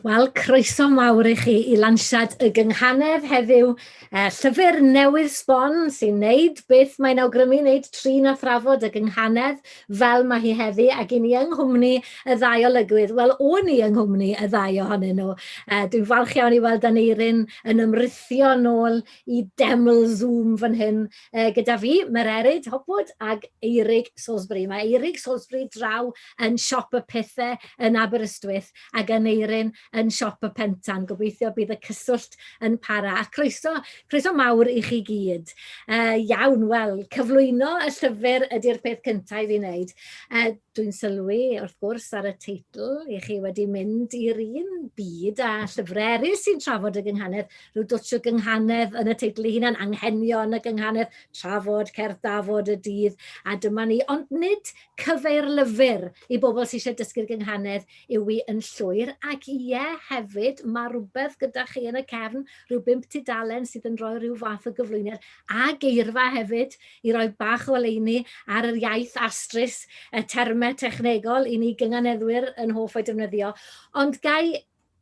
Wel, croeso mawr i chi i lansiad y gynghanedd heddiw. Uh, llyfr newydd sbon sy'n neud beth mae'n awgrymu wneud trin a thrafod y gynghanedd fel mae hi heddi, ac i ni yng nghwmni y ddau olygwydd. Wel, o'n i yng nghwmni y ddau ohonyn nhw. Uh, dwi'n falch iawn i weld Aneirin yn ymrithio nôl i deml Zoom fan hyn uh, gyda fi, Mererid Hopwood ag Eirig Salisbury. Mae Eirig Salisbury draw yn siop y pethau yn Aberystwyth ac Aneirin yn Siop y Pentan. Gobeithio y bydd y cyswllt yn para. A croeso, croeso mawr i chi gyd. Uh, iawn, wel, cyflwyno y llyfr ydy'r peth cyntaf i fi wneud. Uh, Dwi'n sylwi, wrth gwrs, ar y teitl i chi wedi mynd i'r un byd a llyfrau eraill sy'n trafod y gynghanedd. Rhyw dwtsh o gynghanedd yn y teitl ei hunan, anghenion y gynghanedd, trafod, cerdd dafod y dydd, a dyma ni. Ond nid cyfeir lyfr i bobl sy'n eisiau dysgu'r gynghanedd Yw i yn llwyr? Ac ie, hefyd, mae rhywbeth gyda chi yn y cefn, rhyw bump tudalen sydd yn rhoi rhyw fath o gyflwyniad a geirfa hefyd i roi bach o oleuni ar yr iaith astrus, y termau technegol i ni gynganeddwyr yn hoff o'i defnyddio. Ond ga i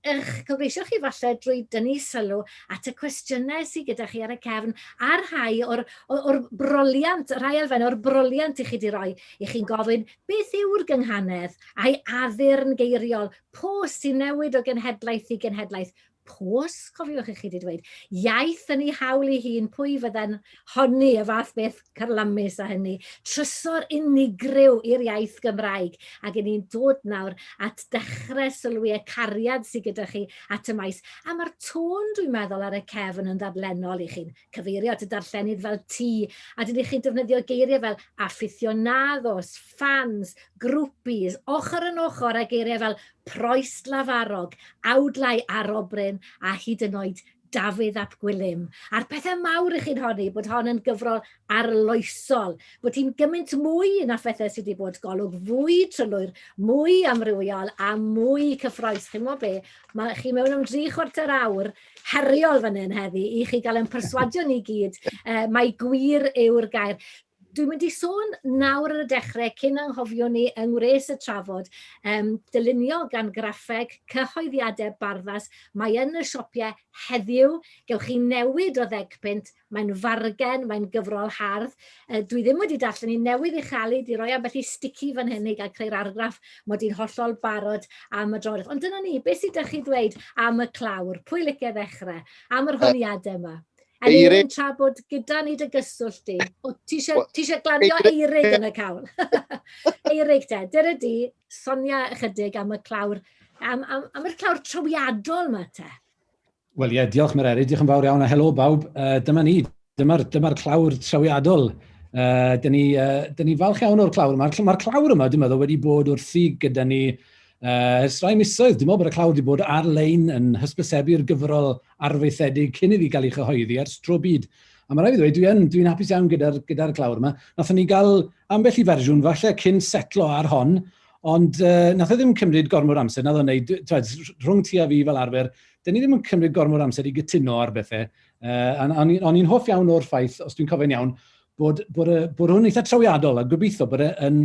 eich cyfreisio chi falle drwy dynnu sylw at y cwestiynau sydd gyda chi ar y cefn a rhai o'r, o'r, o'r broliant, rhai elfennau o'r broliant i chi wedi rhoi i chi'n gofyn Beth yw'r gynghanedd, a'i addurn geiriol, po sy'n newid o genhedlaeth i genhedlaeth? Pos, cofiwch i chi wedi dweud. Iaith yn ei hawl ei hun, pwy fydde'n honni y fath beth carlamus â hynny? Trysor unigryw i'r iaith Gymraeg, ac yn ni'n dod nawr at dechrau sylwi y cariad sydd gyda chi at y maes, a mae'r tôn, dwi'n meddwl, ar y cefn yn ddadlennol i chi'n cyfeirio at y darllenydd fel ti, a dydych chi'n defnyddio geiriau fel aficionados, fans, groupies, ochr yn ochr a geiriau fel proist lafarog, awdlau arobryn a hyd yn oed Dafydd ap Gwilym. A'r pethau mawr i chi'n honni bod hon yn gyfrol arloesol, bod hi'n gymaint mwy na phethau sydd wedi bod golwg fwy trylwyr, mwy amrywiol a mwy cyffroes. Chi'n gwybod be? Mae chi mewn am dri chwarter awr heriol fan hyn heddi i chi gael ein perswadio ni gyd mai gwir yw'r gair. Dwi'n mynd i sôn nawr ar y dechrau, cyn anghofio ni yng ngwres y trafod, um, dylunio gan graffeg cyhoeddiadau barddas. Mae yn y siopie heddiw, gewch chi newid o ddegpunt Mae'n fargen, mae'n gyfrol hardd. Uh, dwi ddim wedi darllen ni newydd i chael ei di roi ambell i sticky fan hyn i gael creu'r argraff mod i'n hollol barod am y droedd. Ond dyna ni, beth sydd ydych chi ddweud am y clawr? Pwy licio ddechrau? Am yr honiadau yma? Yn Eirin tra bod gyda ni dy gyswllt di. O, ti eisiau glanio Eirig yn y cawl. Eirig te, dyna di, sonia ychydig am y clawr, am, am, am y clawr trawiadol yma te. Wel ie, diolch Mererid, diolch yn fawr iawn a helo bawb. Uh, dyma ni, dyma'r dyma clawr trawiadol. Uh, Dyna ni, uh, dyn ni falch iawn o'r clawr yma. Mae'r clawr yma, dwi'n meddwl, wedi bod wrthi gyda ni uh, ers rai misoedd. Dwi'n meddwl bod y clawr wedi bod ar-lein yn hysbysebu'r gyfrol arfaethedig cyn iddi gael ei chyhoeddi ar stro byd. A mae rhaid i ddweud, dwi'n dwi, dwi hapus iawn gyda'r gyda clawr yma. Nathon ni gael ambell i fersiwn falle cyn setlo ar hon, Ond uh, nath e ddim cymryd gormod amser, nath o'n neud, rhwng ti a fi fel arfer, dyn ni ddim yn cymryd gormod o amser i gytuno ar bethau. Uh, a o'n i'n on hoff iawn o'r ffaith, os dwi'n cofio'n iawn, bod, bod, y, bod hwn eitha trawiadol a gobeithio bod e'n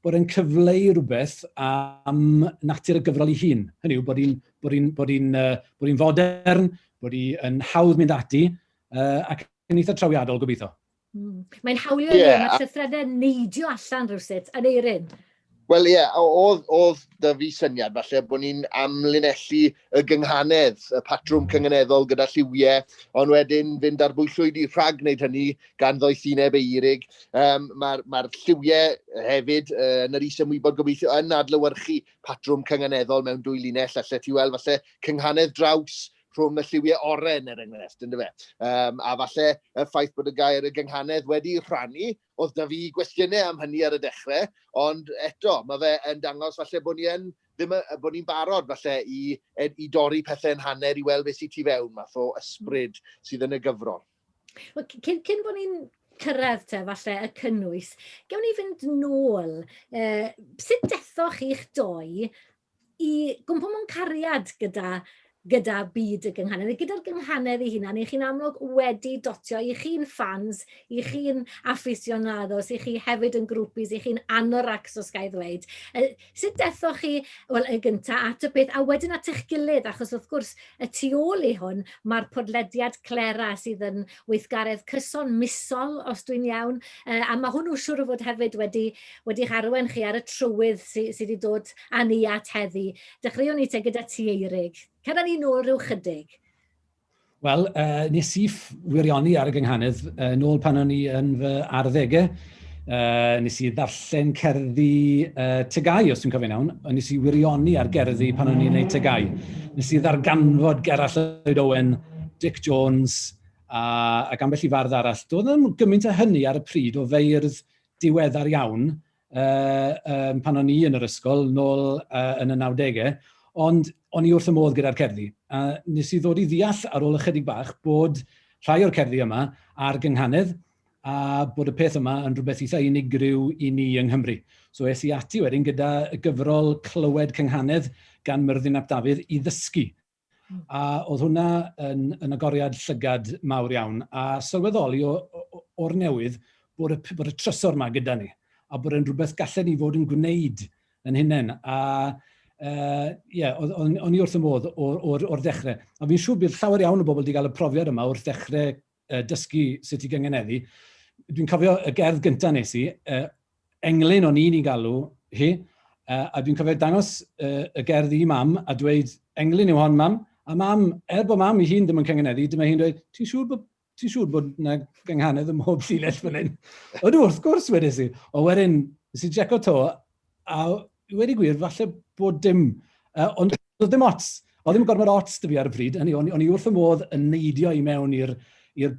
bod e'n cyfleu rhywbeth am natur y gyfrol ei hun. Hynny yw bod hi'n bod hi'n bod hi'n uh, bod hi'n fodern, bod hi'n hawdd mynd ati, uh, ac yn eitha trawiadol gobeithio. Mm. Mae'n hawlio yeah, ni, mae'r llythrenau neidio allan rhywsut, yn eirin. Wel ie, yeah, oedd, oedd dy fi syniad falle bod ni'n amlinellu y gynghanedd, y patrwm cynganeddol gyda lliwiau, ond wedyn fynd ar bwyllwyd i rhag wneud hynny gan ddoethineb eirig. Um, Mae'r ma, lliwiau hefyd uh, yn yr is ymwybod gobeithio yn adlywyrchu patrwm cynganeddol mewn dwy linell, allai ti weld falle cynghanedd draws rhwng y lliwiau oren, er enghraifft, ynddo fe. Um, a falle y ffaith bod y gair y gynghanedd wedi rhannu, oedd da fi gwestiynau am hynny ar y dechrau, ond eto, mae fe yn dangos falle bod ni yn ddim y, bod ni'n barod falle i, i dorri pethau'n hanner i weld beth sy'n tu fewn, math o ysbryd sydd yn y gyfrol. Well, cyn, cyn bod ni'n cyrraedd te, falle, y cynnwys, gewn ni fynd nôl, uh, sut dethoch chi'ch doi i gwmpo mewn cariad gyda, gyda byd y gynghanedd, neu gyda'r gynghanedd ei hunan, neu chi'n amlwg wedi dotio, i chi'n ffans, i chi'n affisionados, i chi hefyd yn grwpis, i chi'n anoracs os ga'i ddweud. Uh, sut dethoch chi, wel, yn gyntaf at y peth, a wedyn at eich gilydd, achos wrth gwrs, y tu ôl i hwn, mae'r podlediad Clera sydd yn weithgaredd cyson misol os dwi'n iawn, yy a ma' hwnnw siŵr o fod hefyd wedi wedi'ch arwain chi ar y trywydd sy sy 'di dod â ni at heddi. Dechreuwn ni te gyda ti Eirig. Cer â ni nôl ryw chydig. Wel yy nes i wirioni ar y gynghanedd yn ôl pan o'n i yn fy arddege Uh, nes i ddarllen cerddi uh, tegau, os dwi'n cofio'n iawn, a nes i wirioni ar gerddi pan o'n i'n gwneud tegau. Nes i ddarganfod Gerall Lloyd Owen, Dick Jones, a, ac ambell i fardd arall. Doedd ddim gymaint o hynny ar y pryd o feirdd diweddar iawn uh, um, pan o'n i yn yr ysgol, nôl uh, yn y 90au, ond o'n i wrth y modd gyda'r cerddi. A nes i ddod i ddeall ar ôl ychydig bach bod rhai o'r cerddi yma ar gynghanedd, a bod y peth yma yn rhywbeth eitha unigryw i ni yng Nghymru. So es i ati wedyn gyda gyfrol Clywed Cynghanedd gan Myrddin ap Dafydd i ddysgu. Hmm. A oedd hwnna yn, yn agoriad llygad mawr iawn, a sylweddoli o'r newydd bod y, bod y trysor yma gyda ni, a bod yn rhywbeth gallen ni fod yn gwneud yn hunain. A uh, yeah, o'n i wrth y modd o'r, or, or ddechrau. A fi'n siŵr bydd llawer iawn o bobl wedi cael y profiad yma wrth ddechrau uh, dysgu sut i gyngeneddu. Dwi'n cofio y gerdd gyntaf nes i, uh, englyn o'n i'n ei galw hi, uh, a dwi'n cofio dangos uh, y gerdd i mam a dweud, englyn yw hon mam, a mam, er bod mam i hun ddim yn cyngeneddu, dyma hi'n dweud, ti'n siŵr bod ti'n siŵr bod yna gynghanedd ym mhob llinell fan hyn? Ydw, wrth gwrs, wedes i. O wedyn, nes i jeco to, A wedi gwir, falle bod dim, uh, ond oedd dim ots. Oedd dim gormod ots dy fi ar y bryd, hynny, o'n, i wrth y modd yn neidio i mewn i'r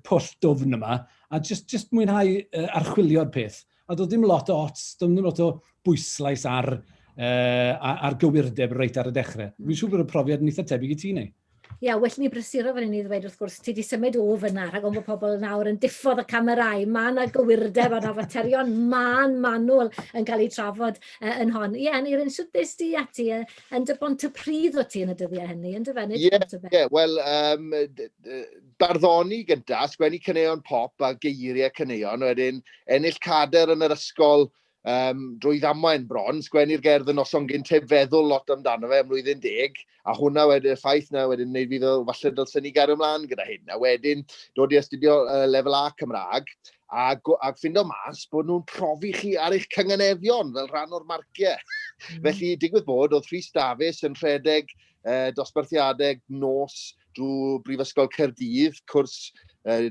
pwll dwfn yma, a just, just mwynhau uh, archwilio'r peth. A doedd dim lot o ots, doedd dim lot o bwyslais ar, uh, ar gywirdeb reit ar y dechrau. Fi'n siŵr bod y profiad yn eitha tebyg i ti, neu? Ia, well ni brysuro fan hyn i ddweud wrth gwrs, ti wedi symud o fyna rhag ofn bod pobl nawr yn diffodd y camerau. Mae yna gywirdeb a faterion man manwl yn cael eu trafod uh, yn hon. Ie, yn Eirin, sut beth di ati uh, yn dy bont y pryd o ti yn y dyddiau hynny, yn dy fe? Ie, ie, wel, um, barddoni gyda, sgwennu cyneuon pop a geiriau cyneuon, wedyn ennill cader yn yr ysgol um, drwy ddamwain bron, sgwennu'r gerdd yn noson gynt heb feddwl lot amdano fe am mlwyddyn deg, a hwnna wedyn y ffaith na wedyn wneud fi ddol, falle dylsyn ni gario ymlaen gyda hyn, a wedyn dod i astudio uh, lefel A Cymraeg, a, a ffindo mas bod nhw'n profi chi ar eich cynganefion fel rhan o'r marciau. Mm. Felly, digwydd bod, oedd Rhys Dafis yn rhedeg uh, dosbarthiadau nos drwy Brifysgol Caerdydd, cwrs uh,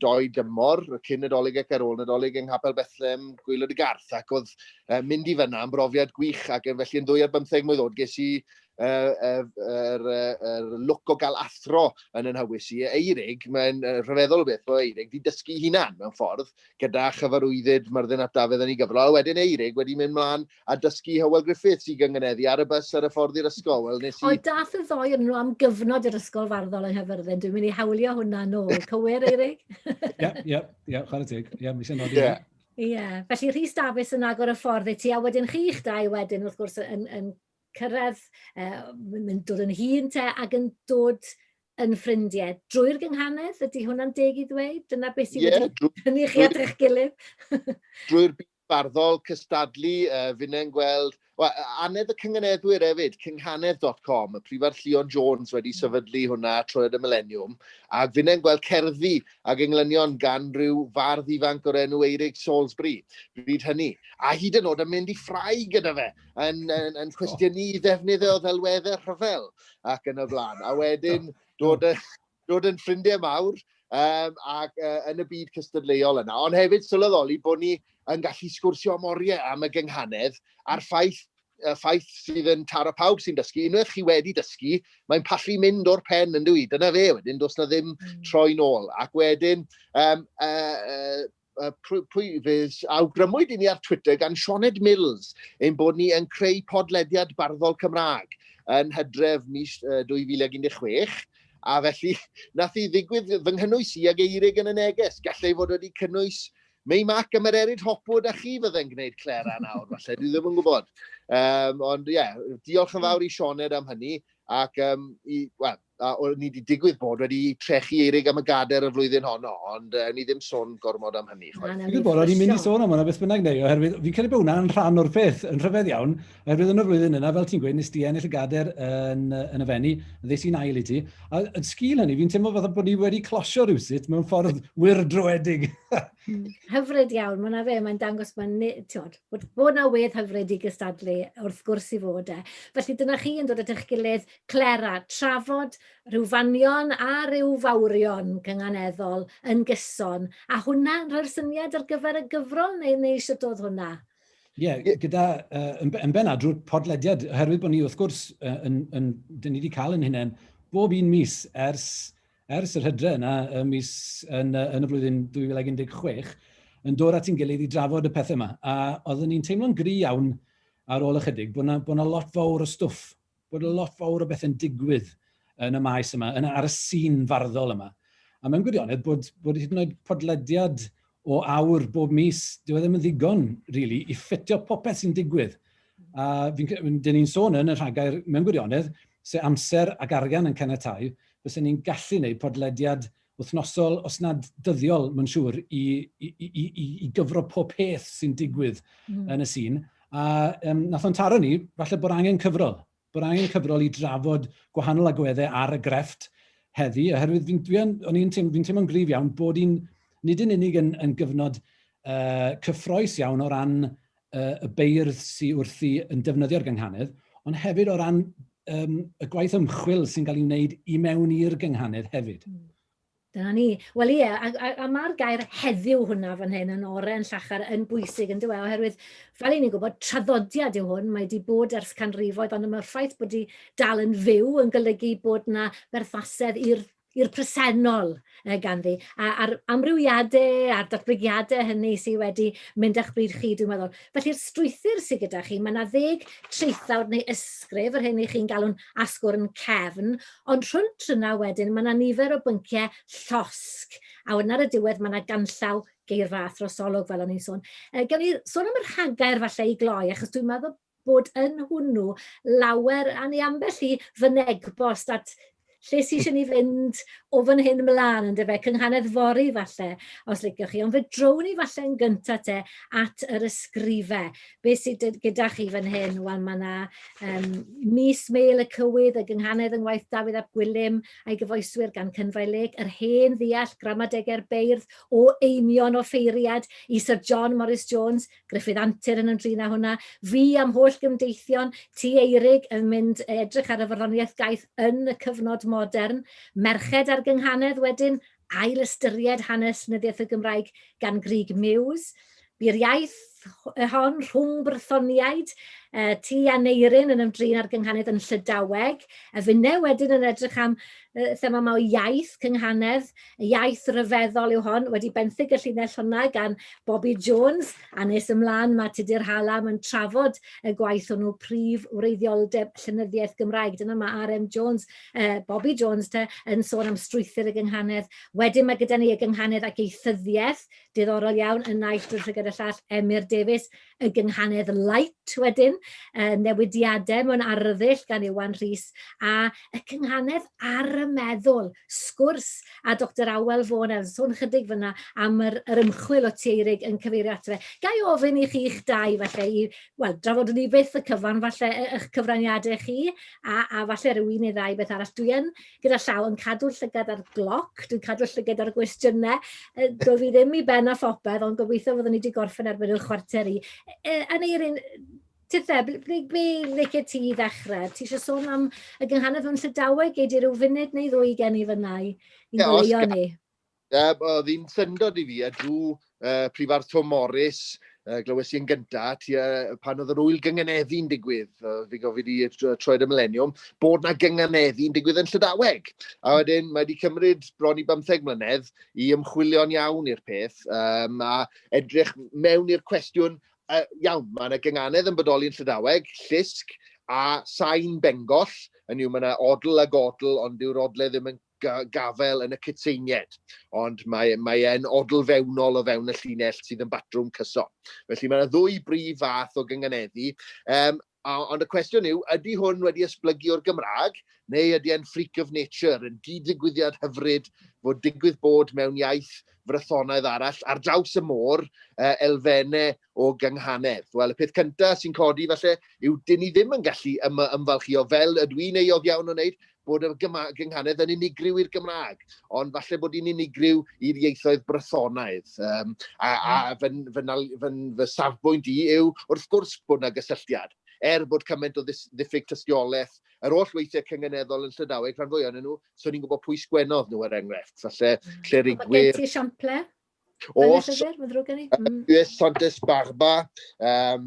doi dymor, cyn Nadolig ac ar ôl Nadolig yng Nghapel Bethlem, Gwylod y Garth, ac oedd uh, mynd i fyna yn brofiad gwych, ac yn felly yn ddwy ar bymtheg mwy ddod, ges i yr uh, er, er lwc o gael athro yn yn hywys i. Eirig, mae'n rhyfeddol o beth o Eirig, di dysgu hunan mewn ffordd, gyda chyfarwyddyd Myrddin at Dafydd yn ei gyfrol, a wedyn Eirig wedi mynd mlaen a dysgu Hywel Griffiths i gyngyneddu ar y bus ar y ffordd i'r ysgol. Wel, nes i... O, dath y ddoi yn nhw am gyfnod i'r ysgol farddol yn Hyfyrddin. Dwi'n mynd i hawlio hwnna nôl. Cywir, Eirig? Ie, ie, ie, chwarae teg. Ie, mi sy'n nodi. Ie. Ie, felly Rhys Dafis yn agor y ffordd i ti, a wedyn chi'ch dau wedyn, wrth gwrs, yn, yn cyrraedd, uh, yn dod yn hun te, ac yn dod yn ffrindiau. Drwy'r gynghanedd, ydy hwnna'n deg i ddweud? Dyna beth sy'n yeah, wedi hynny chi at eich gilydd? Drwy'r byd barddol cystadlu, uh, finnau'n gweld, well, anedd y cynganeddwyr hefyd, cynghanedd.com, y prifar Llion Jones wedi hmm. sefydlu hwnna troed y mileniwm, ac finnau'n gweld cerddi ac englynion gan rhyw fardd ifanc o'r enw Eirig Salisbury, bryd hynny, a hyd yn oed yn mynd i ffrau gyda fe, yn, yn, yn cwestiynu ddefnydd o ddelweddau rhyfel ac yn y blaen, a wedyn dod y dod yn ffrindiau mawr um, ac uh, yn y byd cystadleuol yna, ond hefyd sylweddoli bod ni yn gallu sgwrsio am oriau am y gynghanedd a'r ffaith y ffaith sydd yn taro pawb sy'n dysgu, unwaith chi wedi dysgu, mae'n pallu mynd o'r pen yn dwi. Dyna fe wedyn, does na ddim hmm. troi'n ôl. Ac wedyn, um, uh, uh, pwy fydd, awgrymwyd i ni ar Twitter gan Sioned Mills ein bod ni yn creu podlediad barddol Cymraeg yn hydref mis 2016, a felly nath i ddigwydd fy nghynnwys i ag eirig yn y neges. Gallai fod wedi cynnwys Mei Mac a Mererid Hopwood a chi fydde'n gwneud Clera nawr, falle, dwi ddim yn gwybod. Um, ond ie, yeah, diolch yn fawr i Sioned am hynny, ac um, i, well, a o'n ni wedi digwydd bod wedi trechu eirig am y gader y flwyddyn honno, ond uh, ni ddim sôn gormod am hynny. Chwaith. Dwi'n gwybod, o'n i'n mynd i sôn am hwnna beth bynnag neu, oherwydd fi'n credu bod hwnna'n rhan o'r peth yn rhyfedd iawn, oherwydd yn y flwyddyn yna, fel ti'n gweud, nes di ennill y gader yn, yn y fenni, ddes i'n ail i ti, a yn sgil hynny, fi'n teimlo fath bod ni wedi closio rhywsut mewn ffordd wir droedig. Hmm, hyfryd iawn, mae'n fe, mae'n dangos mae'n tiod, bod, bod na wedd hyfryd i gystadlu wrth gwrs i fod e. Felly dyna chi yn dod at eich gilydd Clera, trafod rhyw fanion a rhyw fawrion gynganeddol yn gyson, a hwnna yn rhoi'r syniad ar gyfer y gyfrol neu neu sut oedd hwnna? Ie, gyda, uh, yn, yn benna drwy'r podlediad, oherwydd bod ni wrth gwrs, uh, yn, yn, dyn ni wedi cael yn hynny'n bob un mis ers, ers yr hydre yna, y mis yn, uh, yn y flwyddyn 2016, yn dod at i'n gilydd i drafod y pethau yma. A oeddwn ni'n teimlo'n gry iawn ar ôl ychydig bod yna, bod yna lot fawr o stwff bod y lot fawr o bethe'n digwydd yn y maes yma, yn, ar y sîn farddol yma. A mewn gwirionedd bod, bod hyd yn oed podlediad o awr bob mis, dyw e ddim yn ddigon, really, i ffitio popeth sy'n digwydd. A dyn ni'n sôn yn y rhagair, mewn gwirionedd, se amser ac arian yn cenetau, fysa ni'n gallu gwneud podlediad wythnosol, os nad dyddiol, mae'n siŵr, i, i, i, i, i gyfro pob peth sy'n digwydd mm. yn y sîn. A um, nath o'n taro ni, falle bod angen cyfrol. Bod angen cyfrol i drafod gwahanol agweddau ar y grefft heddi, oherwydd fi'n dwi o'n i'n teimlo'n teimlo gryf iawn bod hi'n nid yn unig yn, yn gyfnod uh, cyffroes iawn o ran y beirdd sydd wrthi yn defnyddio'r gynghanedd, ond hefyd o ran um, y gwaith ymchwil sy'n cael ei wneud i mewn i'r gynghanedd hefyd. Mm. Dyna ni. Wel ie, a, a, a mae'r gair heddiw hwnna fan hyn yn orau yn llachar yn bwysig yn dweud, oherwydd fel i ni'n gwybod, traddodiad yw hwn, mae wedi bod ers canrifoedd, ond mae'r ffaith bod wedi dal yn fyw yn golygu bod yna berthasedd i'r i'r presennol ganddi, a'r amrywiadau a'r datblygiadau hynny sydd wedi mynd â'ch bryd chi, dwi'n meddwl. Felly'r strwythur sydd gyda chi, mae 'na ddeg traethawd neu ysgrif, yr hyn y'ch chi'n galw'n asgwrn cefn, ond rhwnt yna wedyn mae 'na nifer o bynciau llosg, a wedyn ar y diwedd mae 'na ganllaw geirfa a throsolwg, fel o'n i'n sôn. Gawn ni sôn am y rhagair falle i gloi, achos dwi'n meddwl bod yn hwnnw lawer, a neu ambell i fynegbost at lle sy'n eisiau ni fynd o fan hyn ymlaen, yn dyfe, cynghanedd fori falle, os liciwch chi. Ond fe drown ni falle yn gyntaf te at yr ysgrifau. Be sydd gyda chi fan hyn? Wel, mae yna um, mis Meil y Cywydd, y gynghanedd yng ngwaith Dafydd ap Gwilym, a'i gyfoeswyr gan Cynfai Lec, yr hen ddeall, gramadegau'r beirdd, o einion o ffeiriad i Sir John Morris Jones, Gruffydd Antur yn ymdrin â hwnna, fi a'm holl gymdeithion, Tŷ Eurig yn mynd i edrych ar y farddoniaeth gaeth yn y cyfnod modern, Merched a'r Gynghanedd wedyn, ail ystyried hanes llenyddiaeth y Gymraeg gan Grug Muse, bu'r iaith hon rhwng brythoniaid, uh, Tŷ Aneirin yn ymdrin â'r Gynghanedd yn Llydaweg, a finne wedyn yn edrych am uh, thema yma o iaith Cynghanedd, Iaith ryfeddol yw hon, wedi benthyg y llinell hwnna gan Bobi Jones, a nes ymlaen mae Tudur Hallam yn trafod y gwaith hwnnw, prif wreiddioldeb llenyddiaeth Gymraeg. Dyna mae RM Jones, uh, Bobi Jones te, yn sôn am strwythyr y gynghanedd. Wedyn mae gyda ni y gynghanedd ac eithyddiaeth, diddorol iawn, yn naill drwy llygad y llall Emyr Davies, y gynghanedd Light wedyn, y newidiadau mewn arddull gan Iwan Rhys, a y cynghanedd ar y meddwl, sgwrs a Doctor Awel Fôn, a sôn chydig fyna am yr, yr ymchwil o Tieirig yn cyfeirio ato fe. Ga i ofyn i chi'ch dau falle i, wel, drafod ni beth y cyfan falle eich cyfraniadau chi, a, a falle rhyw un neu ddau beth arall. Dwi yn gyda llaw yn cadw llygad ar gloc, dwi'n cadw llygad ar y gwestiynau. Dw i ddim i ben a phopeth, ond gobeithio fyddwn ni wedi gorffen erbyn y chwarter i. E, yn eirin, Tithe, ble, ble, ble licio ti i ddechrau? Ti eisiau sôn am y gynghanedd mewn llydaweg? Gei di rhyw funud neu ddwy gen i fyna i, i ni? Ie, oedd hi'n syndod i fi, a drw uh, Prifardd Tom Morris, uh, glywes i yn gyntaf, ti, uh, pan oedd yr wyl gynganeddi'n digwydd, uh, fi gofyd i troed y mileniwm, bod na gynganeddi'n digwydd yn Llydaweg. A wedyn, mae wedi cymryd bron i bymtheg mlynedd i ymchwilio'n iawn i'r peth, um, a edrych mewn i'r cwestiwn, uh, iawn, mae yna gynganedd yn bodoli yn Llydaweg, llusg, a sain bengoll, yn yw mae yna odl a godl, ond dyw'r odle ddim yn gafael yn y cytseinied, ond mae, mae e'n odl fewnol o fewn y llinell sydd yn batrwm cyson. Felly mae yna ddwy brif fath o gynganeddu, um, ond y cwestiwn yw, ydy hwn wedi esblygu o'r Gymraeg, neu ydy e'n freak of nature, yn gyd-ddigwyddiad hyfryd fod digwydd bod mewn iaith frythonaidd arall ar draws y môr, uh, elfenne o gynghanedd. Wel, y peth cyntaf sy'n codi falle yw dyn ni ddim yn gallu ym ymfalchio fel ydw i'n euog iawn o wneud, bod yr gynghanedd yn unigryw i'r Gymraeg, ond falle bod hi'n unigryw i'r ieithoedd Brythonaidd. Um, a a hmm. fy, fy, fy, fy safbwynt i yw, wrth gwrs, bod yna gysylltiad. Er bod cymaint o ddiffyg tystiolaeth yr oll weithiau cyngeneddol yn Llydaweg, rhan fwy o'n nhw, so ni'n gwybod pwy sgwennodd nhw er enghraifft. Falle, hmm. clerigwyr... Mae gen ti esiamplau? Os, Llyfr, mm. Santes Barba, um,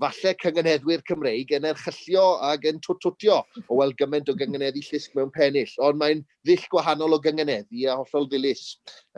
falle cyngenheddwyr Cymreig yn erchyllio ac yn twtwtio o weld gymaint o gyngeneddu llusg mewn pennill, ond mae'n ddull gwahanol o gyngeneddu a hollol ddilys.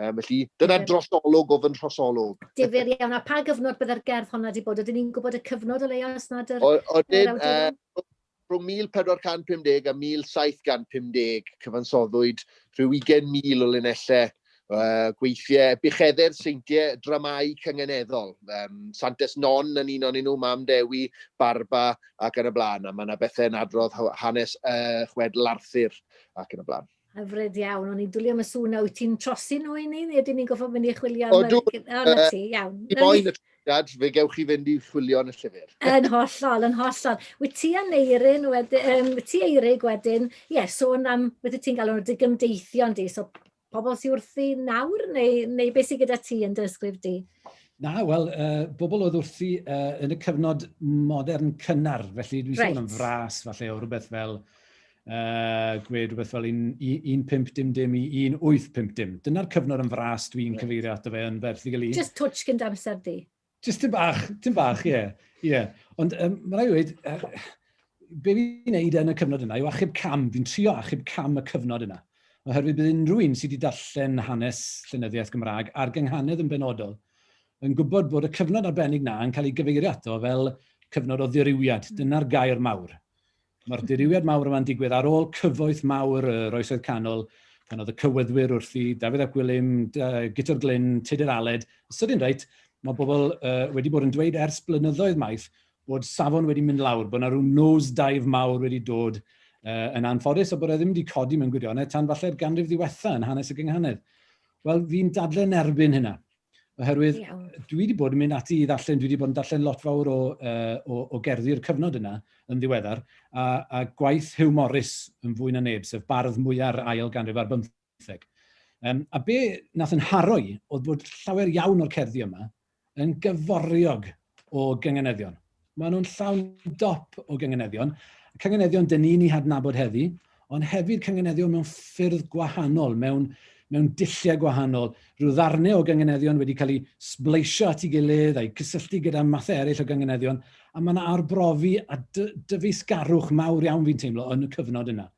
Um, felly, dyna drosolwg o fy nhrosolwg. Difyr iawn, a pa gyfnod byddai'r gerdd honna wedi bod? Oedden ni'n gwybod y cyfnod o leia os nad yr... Oedden, uh, Rhwng 1450 a 1750, cyfansoddwyd rhyw 20,000 o linellau uh, gweithiau bucheddau'r seintiau dramau cyngeneddol. Um, Santes Non yn un o'n nhw, Mam Dewi, Barba ac yn y blaen. A mae yna bethau yn adrodd hanes uh, chwedl Arthur ac yn y blaen. Hyfryd iawn, o'n i'n dwlio am y sŵn na wyt ti'n trosi nhw i ni, neu ydyn ni'n goffo mynd i chwilio am y... O, na ti, iawn. I moyn y trosiad, fe gewch chi fynd i chwilio yn y llyfr. yn hollol, yn hollol. Wyt ti a Neirin, wedyn, um, wyt ti Eirig wedyn, ie, yeah, sôn am, wyt ti'n galw nhw digymdeithion di, so pobl sy'n wrthi nawr, neu, neu beth sy'n gyda ti yn dy ysgrif di? Na, wel, uh, bobl oedd wrthi uh, yn y cyfnod modern cynnar, felly dwi'n right. sôn am fras, falle, o rhywbeth fel uh, gwed rhywbeth fel 1.5 dim dim i 1.8 pimp dim. Dyna'r cyfnod yn fras dwi'n cyfeirio ato fe yn ferth i gael un. Just twtch gyda amser di. Just tyn bach, tyn bach, ie. Yeah. yeah. Ond um, mae rai wedi, uh, be fi'n neud yn y cyfnod yna yw achub cam, fi'n trio achub cam y cyfnod yna. Oherwydd bydd unrhyw un sydd wedi darllen hanes llenyddiaeth Gymraeg a'r gynghanedd yn benodol yn gwybod bod y cyfnod arbennig na yn cael ei gyfeirio ato fel cyfnod o ddirywiad. Dyna'r gair mawr. Mae'r dirywiad mawr yma'n digwydd ar ôl cyfoeth mawr yr Oesoedd Canol, pan oedd y cywyddwyr wrthi, Dafydd ap Gwilym, Guto'r Glyn, Tudur Aled. Os ydy'n reit, mae bobl uh, wedi bod yn dweud ers blynyddoedd maith bod safon wedi mynd lawr, bod yna rhyw nose dive mawr wedi dod uh, yn anffodus a bod e ddim wedi codi mewn gwirionedd tan falle'r ganrif ddiwetha yn hanes y gynghanedd. Wel, fi'n dadle yn erbyn hynna. Oherwydd, Iawn. dwi wedi bod yn mynd ati i ddarllen, dwi wedi bod yn darllen lot fawr o, uh, o, o gerddi'r cyfnod yna yn ddiweddar, a, a gwaith Hugh Morris yn fwy na neb, sef bardd mwyar ail ganrif ar bymtheg. Um, a be nath yn haroi oedd bod llawer iawn o'r cerddi yma yn gyforiog o gynganeddion. Maen nhw'n llawn dop o gynganeddion. Cynganeddion dyn ni'n ei hadnabod heddi, ond hefyd cynganeddion mewn ffyrdd gwahanol, mewn, mewn dilliau gwahanol. Rhyw ddarnau o gynganeddion wedi cael eu sbleisio at ei gilydd a'i cysylltu gyda mathau eraill o gynganeddion, a mae yna arbrofi a dyfeisgarwch mawr iawn fi'n teimlo yn y cyfnod yna.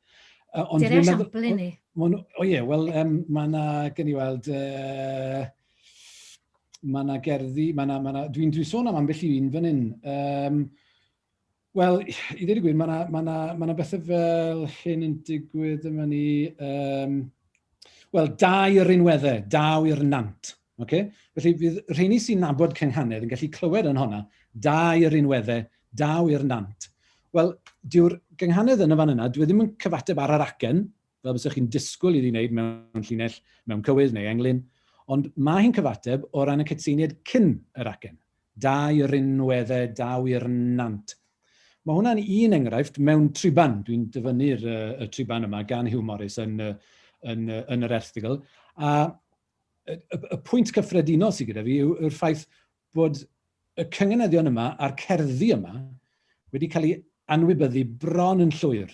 Uh, ond Dyna esiampl i ni. O, o ie, wel, um, mae yna, gen i weld, uh, Mae yna gerddi, mae yna, mae yna, dwi'n dwi sôn am ambell i un fan hyn. Um, Wel, i ddweud y gwir, mae yna ma na, ma na bethau fel hyn yn digwydd yma ni... Um, Wel, dau yr unweddau, daw i'r nant. Okay? Felly, bydd rheini sy'n nabod cynghanedd yn gallu clywed yn honna, dau yr unweddau, daw i'r nant. Wel, dyw'r gynghanedd yn y fan yna, dwi e ddim yn cyfateb ar yr acen, fel bysech chi'n disgwyl iddi wneud mewn llinell mewn cywydd neu englyn, ond mae hi'n cyfateb o ran y cytseiniaid cyn yr acen, da i rinwedde, daw i'r nant. Mae hwnna'n un enghraifft mewn triban, dwi'n dyfynnu'r y triban yma gan Hugh Morris yn, yn, yn yr erthigl, a y, y, y pwynt cyffredinol sydd gyda fi yw'r ffaith bod y cynganeddion yma a'r cerddi yma wedi cael ei anwybyddu bron yn llwyr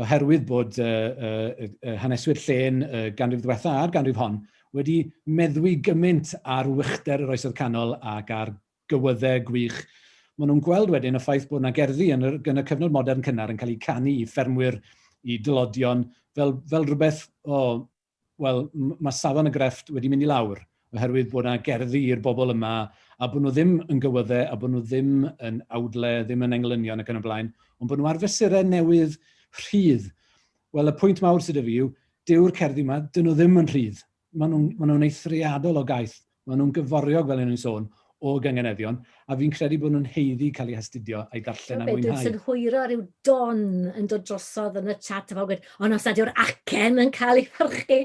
oherwydd bod uh, uh, uh, haneswyr llen uh, ganrif ddiwetha a'r ganrif hon wedi meddwi gymaint ar wychder yr oesodd canol ac ar gywyddau gwych. Mae nhw'n gweld wedyn y ffaith bod yna gerddi yn y, yn y cyfnod modern cynnar yn cael eu canu i ffermwyr, i dylodion, fel, fel rhywbeth o wel, mae safon y grefft wedi mynd i lawr, oherwydd bod yna gerddi i'r bobl yma, a bod nhw ddim yn gywyddau, a bod nhw ddim yn awdle, ddim yn englynion ac yn y blaen, ond bod nhw ar fesurau newydd rhydd. Wel, y pwynt mawr sydd y fi yw, dyw'r cerddi yma, dyn nhw ddim yn rhydd. Maen nhw'n ma nhw eithriadol o gaeth, Maen nhw'n gyforiog, fel o'n i'n sôn, o gynganeddion, a fi'n credu bod nhw'n haeddu cael eu hastudio, a'i ddarllen a'i mwynhau. Be dwi'n synhwyro yw Don yn dod drosodd yn y chat a pawb yn gweud, ond os nad yw'r acen yn cael ei phyrchu,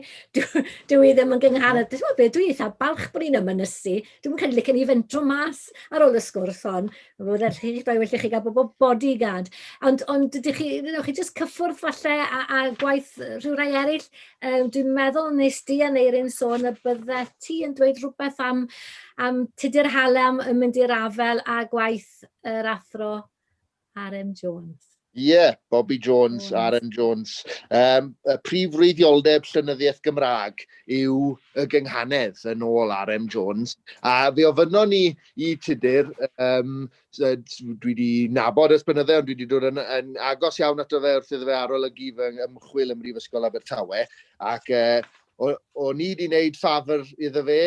dyw hi ddim yn gyngharadd. Dych chi'n gwybod be, dwi eitha balch bod ni'n ymynysu. Dwi'm yn credu licen i fynd dro mas ar ôl y sgwrs hon. Mae'n rhaid well i chi gael bobl bodyguard. Ond, ond dych chi, chi jyst cyffwrdd falle a, a gwaith rhyw rai eraill, Yym, dwi'n meddwl nes di a Neirin sôn y bydde ti yn dweud rhywbeth am, am tudur hale am yn mynd i'r afel a gwaith yr athro R.M. Jones. Ie, yeah, Bobby Jones, Jones. R.M. Jones. Um, y prif wreiddioldeb llynyddiaeth Gymraeg yw y gynghanedd yn ôl R.M. Jones. A fe ofynnon ni i tudur um, dwi wedi nabod ers bynyddau, ond dwi wedi dod yn, yn agos iawn ato fe wrth iddo fe arolygu fy ymchwil ym Mhrifysgol Abertawe, ac e, o, o ni wedi wneud ffafr iddo fe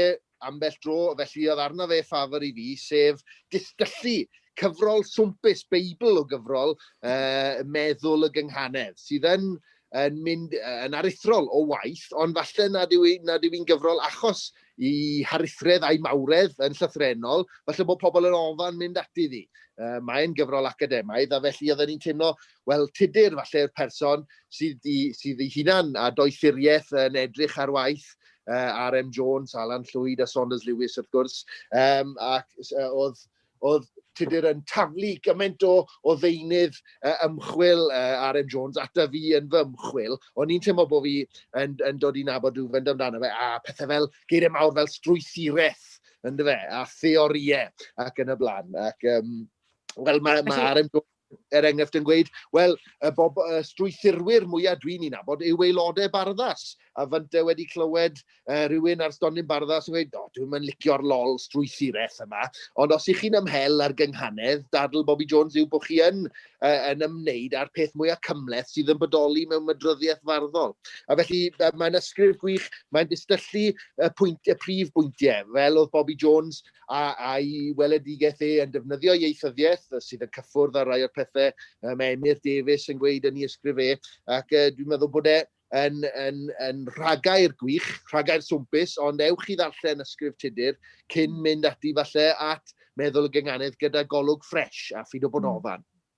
ambell dro, felly oedd arno fe ffafr i fi, sef distyllu cyfrol swmpus, beibl o gyfrol, uh, meddwl y gynghanedd, sydd yn yn mynd yn aruthrol o waith, ond falle nad yw, nad yw i'n gyfrol achos i harithredd a'i mawredd yn llythrenol, falle bod pobl yn ofan mynd ati ddi. Uh, mae'n gyfrol academaidd, a felly oedden ni'n teimlo, wel, tudur falle yw'r person sydd, i, sydd ei hunan a doethuriaeth yn edrych ar waith uh, RM Jones, Alan Llwyd a Saunders Lewis wrth gwrs, um, ac uh, oedd oedd Tudur yn taflu gymaint o, o ddeunydd uh, ymchwil uh, RM Jones ata fi yn fy ymchwil, o'n i'n teimlo bod fi yn, yn dod i nabod rhyw fynd amdano fe, a pethau fel geiriau mawr fel strwythuraeth, ynddo fe, a theoriau ac yn y blaen. Ac, um, wel, mae ma RM Jones er enghraifft yn gweud, wel, y, bob, y strwythurwyr mwyaf dwi'n ei nabod yw aelodau barddas. A fynt e wedi clywed uh, rhywun ar stondin barddas yn gweud, o, dwi'n mynd licio'r lol strwythuraeth yma. Ond os ych chi'n ymhel ar gynghanedd, dadl Bobby Jones yw bod chi yn, uh, yn ymwneud â'r peth mwyaf cymleth sydd yn bodoli mewn mydryddiaeth farddol. A felly, uh, mae'n ysgrif gwych, mae'n distyllu y, pwynt, y prif bwyntiau, fel oedd Bobby Jones a, a'i weledigaeth e yn defnyddio ieithyddiaeth sydd yn cyffwrdd ar rai o'r pethau um, Emyr Davies yn gweud yn ei ysgrif e, ac uh, dwi'n meddwl bod e yn, yn, yn rhagair gwych, rhagair swmpus, ond ewch i ddarllen ysgrif Tudur cyn mynd ati falle at meddwl y gynganedd gyda golwg ffres a ffid o bod hmm. ofan.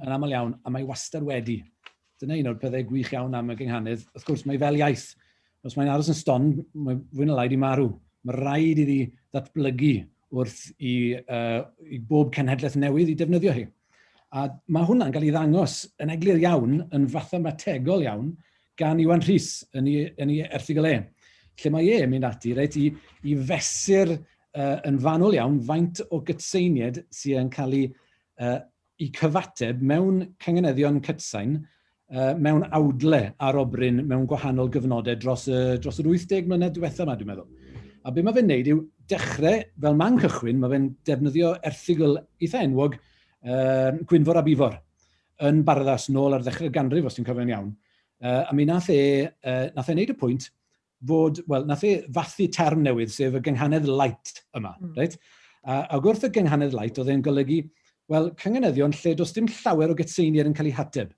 yn aml iawn, a mae wastad wedi. Dyna un o'r pethau gwych iawn am y gynghanedd. Wrth gwrs, mae fel iaith. Os mae'n aros yn ston, mae fwy na lai di marw. Mae rhaid iddi ddatblygu wrth i, uh, i bob cenhedlaeth newydd i defnyddio hi. A mae hwnna'n cael ei ddangos yn eglur iawn, yn fathemategol iawn, gan Iwan Rhys yn ei, yn ei erthigol e, lle mae e'n mynd ati reit, i, i fesur uh, yn fanwl iawn faint o gytseiniad sy'n cael ei eu cyfateb mewn cangneddion cytsain mewn awdle arobryn mewn gwahanol gyfnodau dros y, dros yr 80 mlynedd diwetha yma, dwi'n meddwl. A beth mae fe'n neud yw dechrau, fel man cychwyn, mae fe'n defnyddio erthigol eitha enwog uh, Gwynfor a Bifor yn barddas nôl ar ddechrau'r ganrif, os dwi'n cofio'n iawn. Uh, a mi nath e, uh, nath e wneud y pwynt fod, wel, nath e fathu term newydd, sef y gynghanedd light yma, mm. reit? A, ac wrth y gynghanedd light, oedd e'n golygu, wel, cynganeddion lle does dim llawer o gytseiniad yn cael ei hateb.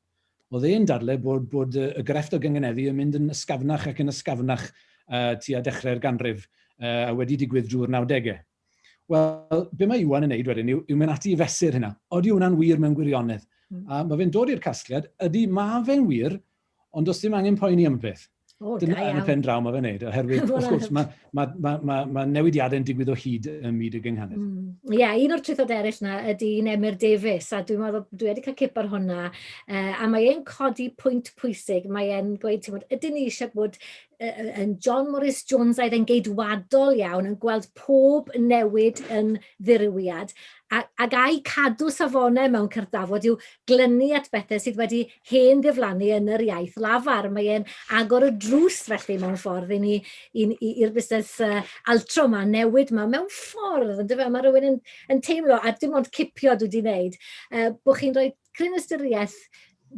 Oedd e'n dadle bod, bod y grefft o gynganeddu yn mynd yn ysgafnach ac yn ysgafnach uh, tua dechrau'r ganrif uh, a wedi digwydd drwy'r 90au. Wel, be mae Iwan yn neud wedyn yw, yw mynd ati i fesur hynna. Oeddi hwnna'n wir mewn gwirionedd? Mm. A mae fe'n dod i'r casgliad, ydy mae fe'n wir, Ond does dim angen poeni am beth. O, Dyna da yn y pen draw mae fe'n neud, oherwydd, wrth gwrs, mae, mae, mae, mae, mae newidiadau'n digwydd o hyd ym myd y gynghanedd. Mm. Ie, mm. yeah, un o'r trwythod eraill na ydy un Emyr Davies, a dwi'n meddwl, dwi wedi cael cip ar hwnna, uh, a mae e'n codi pwynt pwysig, mae e'n gweud, ti'n bod, ydyn ni eisiau bod yn John Morris Jones aedd yn geidwadol iawn, yn gweld pob newid yn ddirywiad, ac a'i cadw safonau mewn cyrddafod yw glynu at bethau sydd wedi hen gyflanu yn yr iaith lafar. Mae e'n agor y drws felly mewn ffordd i ni, i'r busnes uh, altro yma, newid yma, mewn ffordd, yn dyfa, mae rhywun yn, yn teimlo, a dim ond cipio dwi wedi wneud, uh, bod chi'n rhoi cryn ystyriaeth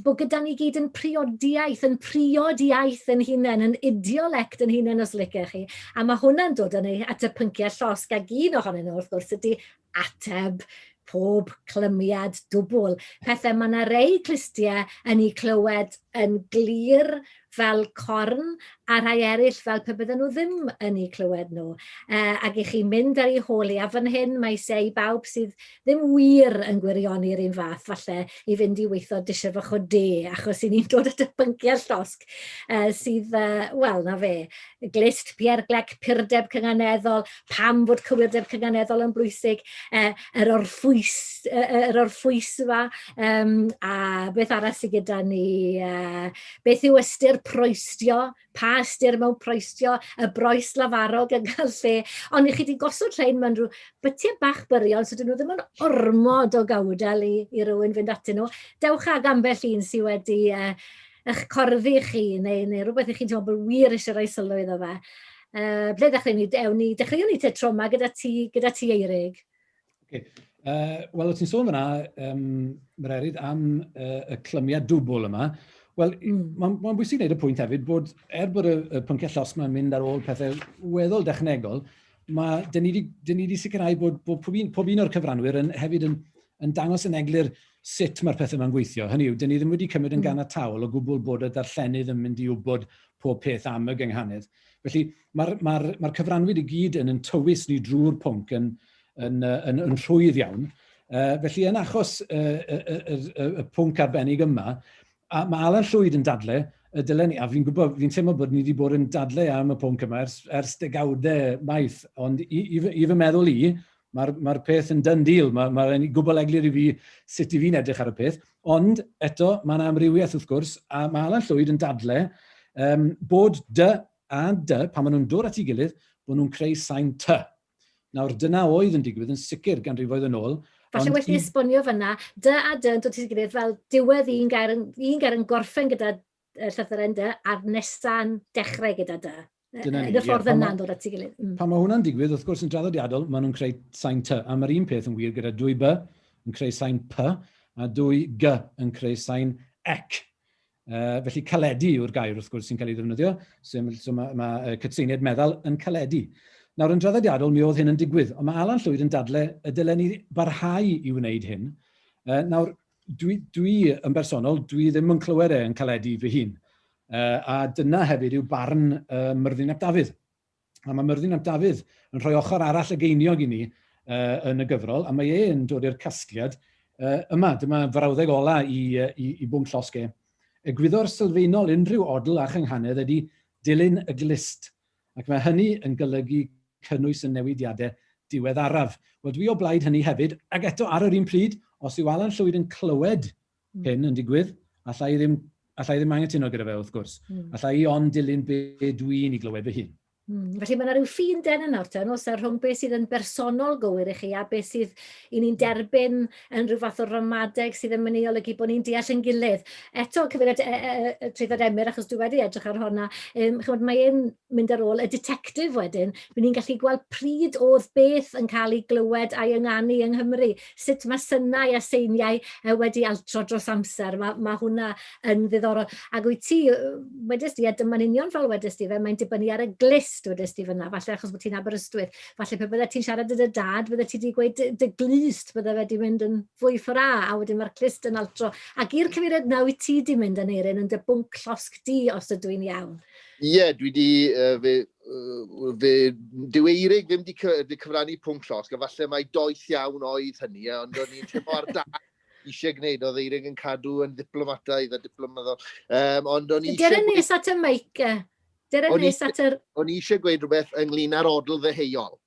bod gyda ni gyd yn priodiaeth, yn priod iaith yn hunain, yn idiolect yn hunain os licech chi. A mae hwnna'n dod yn ei at y pynciau llosg ag un ohonyn nhw wrth gwrs ydy ateb pob clymiad dwbwl. Pethau, mae yna rei clustiau yn ei clywed yn glir fel corn, a rhai eraill fel pe bydden nhw ddim yn ei clywed nhw. E, ac i chi mynd ar ei hôl i afon hyn, mae se i bawb sydd ddim wir yn gwirioni'r un fath, falle, i fynd i weithio disher fach o de, achos i ni'n dod at y pynciau llosg e, sydd, e, wel, na fe, glist, pierglec, purdeb cynganeddol, pam fod cywirdeb cynganeddol yn bwysig, e, yr orffwys, e, yr orffwys yma, um, a beth arall sydd gyda ni, uh, beth yw ystyr proestio, pa ystyr mewn proestio, y broes lafarog yn cael lle, ond i chi wedi gosod llein mewn rhyw bytiau bach byrion, so dyn nhw ddim yn ormod o gawdel i, i rywun fynd atyn nhw. Dewch ag ambell un sydd wedi uh, eich corddi chi, neu, neu rhywbeth i chi'n teimlo bod wir eisiau rhoi sylw iddo fe. Uh, ble ddechrau ni? Ewn ni, dechreuwn ni te troma gyda ti, gyda ti Eirig. Okay. Uh, Wel, o ti'n sôn fyna, um, mae'r erid am uh, y clymiad dwbl yma. Wel, mm. mae'n ma bwysig wneud y pwynt hefyd bod, er bod y, y pynciau llosg yma'n mynd ar ôl pethau weddol dechnegol, mae, dyn ni wedi sicrhau bod, bod pob un, pob un o'r cyfranwyr yn, hefyd yn, yn dangos yn eglur sut mae'r pethau yma'n gweithio. Hynny yw, dyn ni ddim wedi cymryd yn mm. gan y tawl o gwbl bod y darllenydd yn mynd i wybod pob peth am y gynghanedd. Felly mae'r ma ma cyfranwyr i gyd yn yn tywys ni drwy'r pwnc yn, yn, yn, yn rhwydd iawn. Uh, felly yn achos y uh, uh, uh, uh, uh, pwnc arbennig yma, a mae Alan Llwyd yn dadle, y dylen ni, a fi'n gwybod, fi'n teimlo bod ni wedi bod yn dadle am y pwnc yma ers, ers degawdau maith, ond i, i, i fy meddwl i, Mae'r ma peth yn done deal, mae'n ma, ma gwbl eglur i fi sut i fi'n edrych ar y peth, ond eto mae yna amrywiaeth wrth gwrs, a mae Alan Llwyd yn dadle um, bod dy a dy, pan maen nhw'n dod at ei gilydd, bod nhw'n creu sain ty. Nawr, dyna oedd yn digwydd yn sicr ganrifoedd yn ôl. Falle well i esbonio fyna, dy a dy yn dod at ei gilydd fel diwedd un gair, un gair yn gorffen gyda y llythyren dy, a'r nesa'n dechrau gyda dy. Dyna ni. Yn y ffordd yeah, yna'n dod at ei gilydd. Mm. Pan mae hwnna'n digwydd, wrth gwrs, yn draddodiadol, maen nhw'n creu sain ty, a mae'r un peth yn wir gyda dwy by yn creu sain py, a dwy gy yn creu sain ec. Uh, felly caledu yw'r gair wrth gwrs sy'n cael ei ddefnyddio, so, so mae, ma, uh, cytseiniad meddal yn caledu. Nawr yn draddodiadol mi oedd hyn yn digwydd, ond mae Alan Llwyd yn dadle y dylen ni barhau i wneud hyn. Uh, nawr, Dwi, dwi yn bersonol, dwi ddim yn clywed e yn caledu fy hun. Uh, a dyna hefyd yw barn uh, Myrddin ap Dafydd. A mae Myrddin ap Dafydd yn rhoi ochr arall y geiniog i ni uh, yn y gyfrol, a mae e'n dod i'r casgliad uh, yma. Dyma frawddeg ola i, uh, i, i bwnc llosge. Egwyddor sylfaenol unrhyw odl a chynghanedd ydy dilyn y glist ac mae hynny yn golygu cynnwys y newidiadau diweddaraf. Wel, dwi o blaid hynny hefyd, ac eto ar yr un pryd, os yw Alan Llwyd yn clywed hyn yn digwydd, allai ddim, allai ddim anghytuno gyda fe wrth gwrs. Mm. Allai i ond dilyn be dwi'n i glywed fy hun. Mm. Felly mae yna rhyw ffin den yna, os yna, rhwng beth sydd yn bersonol gywir i chi a beth sydd i ni'n derbyn yn rhyw fath o ramadeg sydd yn mynd i olygu bod ni'n deall ein gilydd. Eto, cyfeiriad e, e, e, e Treithad Emyr, achos dwi wedi edrych ar honna, um, chymod, mae e'n mynd ar ôl y detectif wedyn, bydd ni'n gallu gweld pryd oedd beth yn cael ei glywed a'i ynganu yng Nghymru, sut mae synau a seiniau e, wedi altro dros amser, mae, mae hwnna yn ddiddorol. Ac wyt ti, wedys di, a dyma'n union fel wedys di fe, mae'n dibynnu ar y glist wedys di fyna, falle achos bod ti'n Aberystwyth, falle pe bydde ti'n siarad â dy dad, bydde ti wedi gweud dy, glust, bydde fe wedi mynd yn fwy ffora, a wedyn mae'r clust yn altro. Ac i'r cyfeiriad na wyt ti wedi mynd yn eirin yn dy bwnc llosg di, os ydw i'n iawn. Ie, yeah, dwi wedi, uh, fe, uh, fe, dyw Eirig ddim wedi cyfrannu pwnc llosg, a falle mae doeth iawn oedd hynny, ond o'n i'n teimlo ar da eisiau gwneud, oedd Eirig yn cadw yn ddiplomataidd a diplomaddol. Um, ond o'n i eisiau... Gyrra nes at y meic, Dere nes at yr... O'n i eisiau gweud rhywbeth ynglyn â'r odl ddeheuol,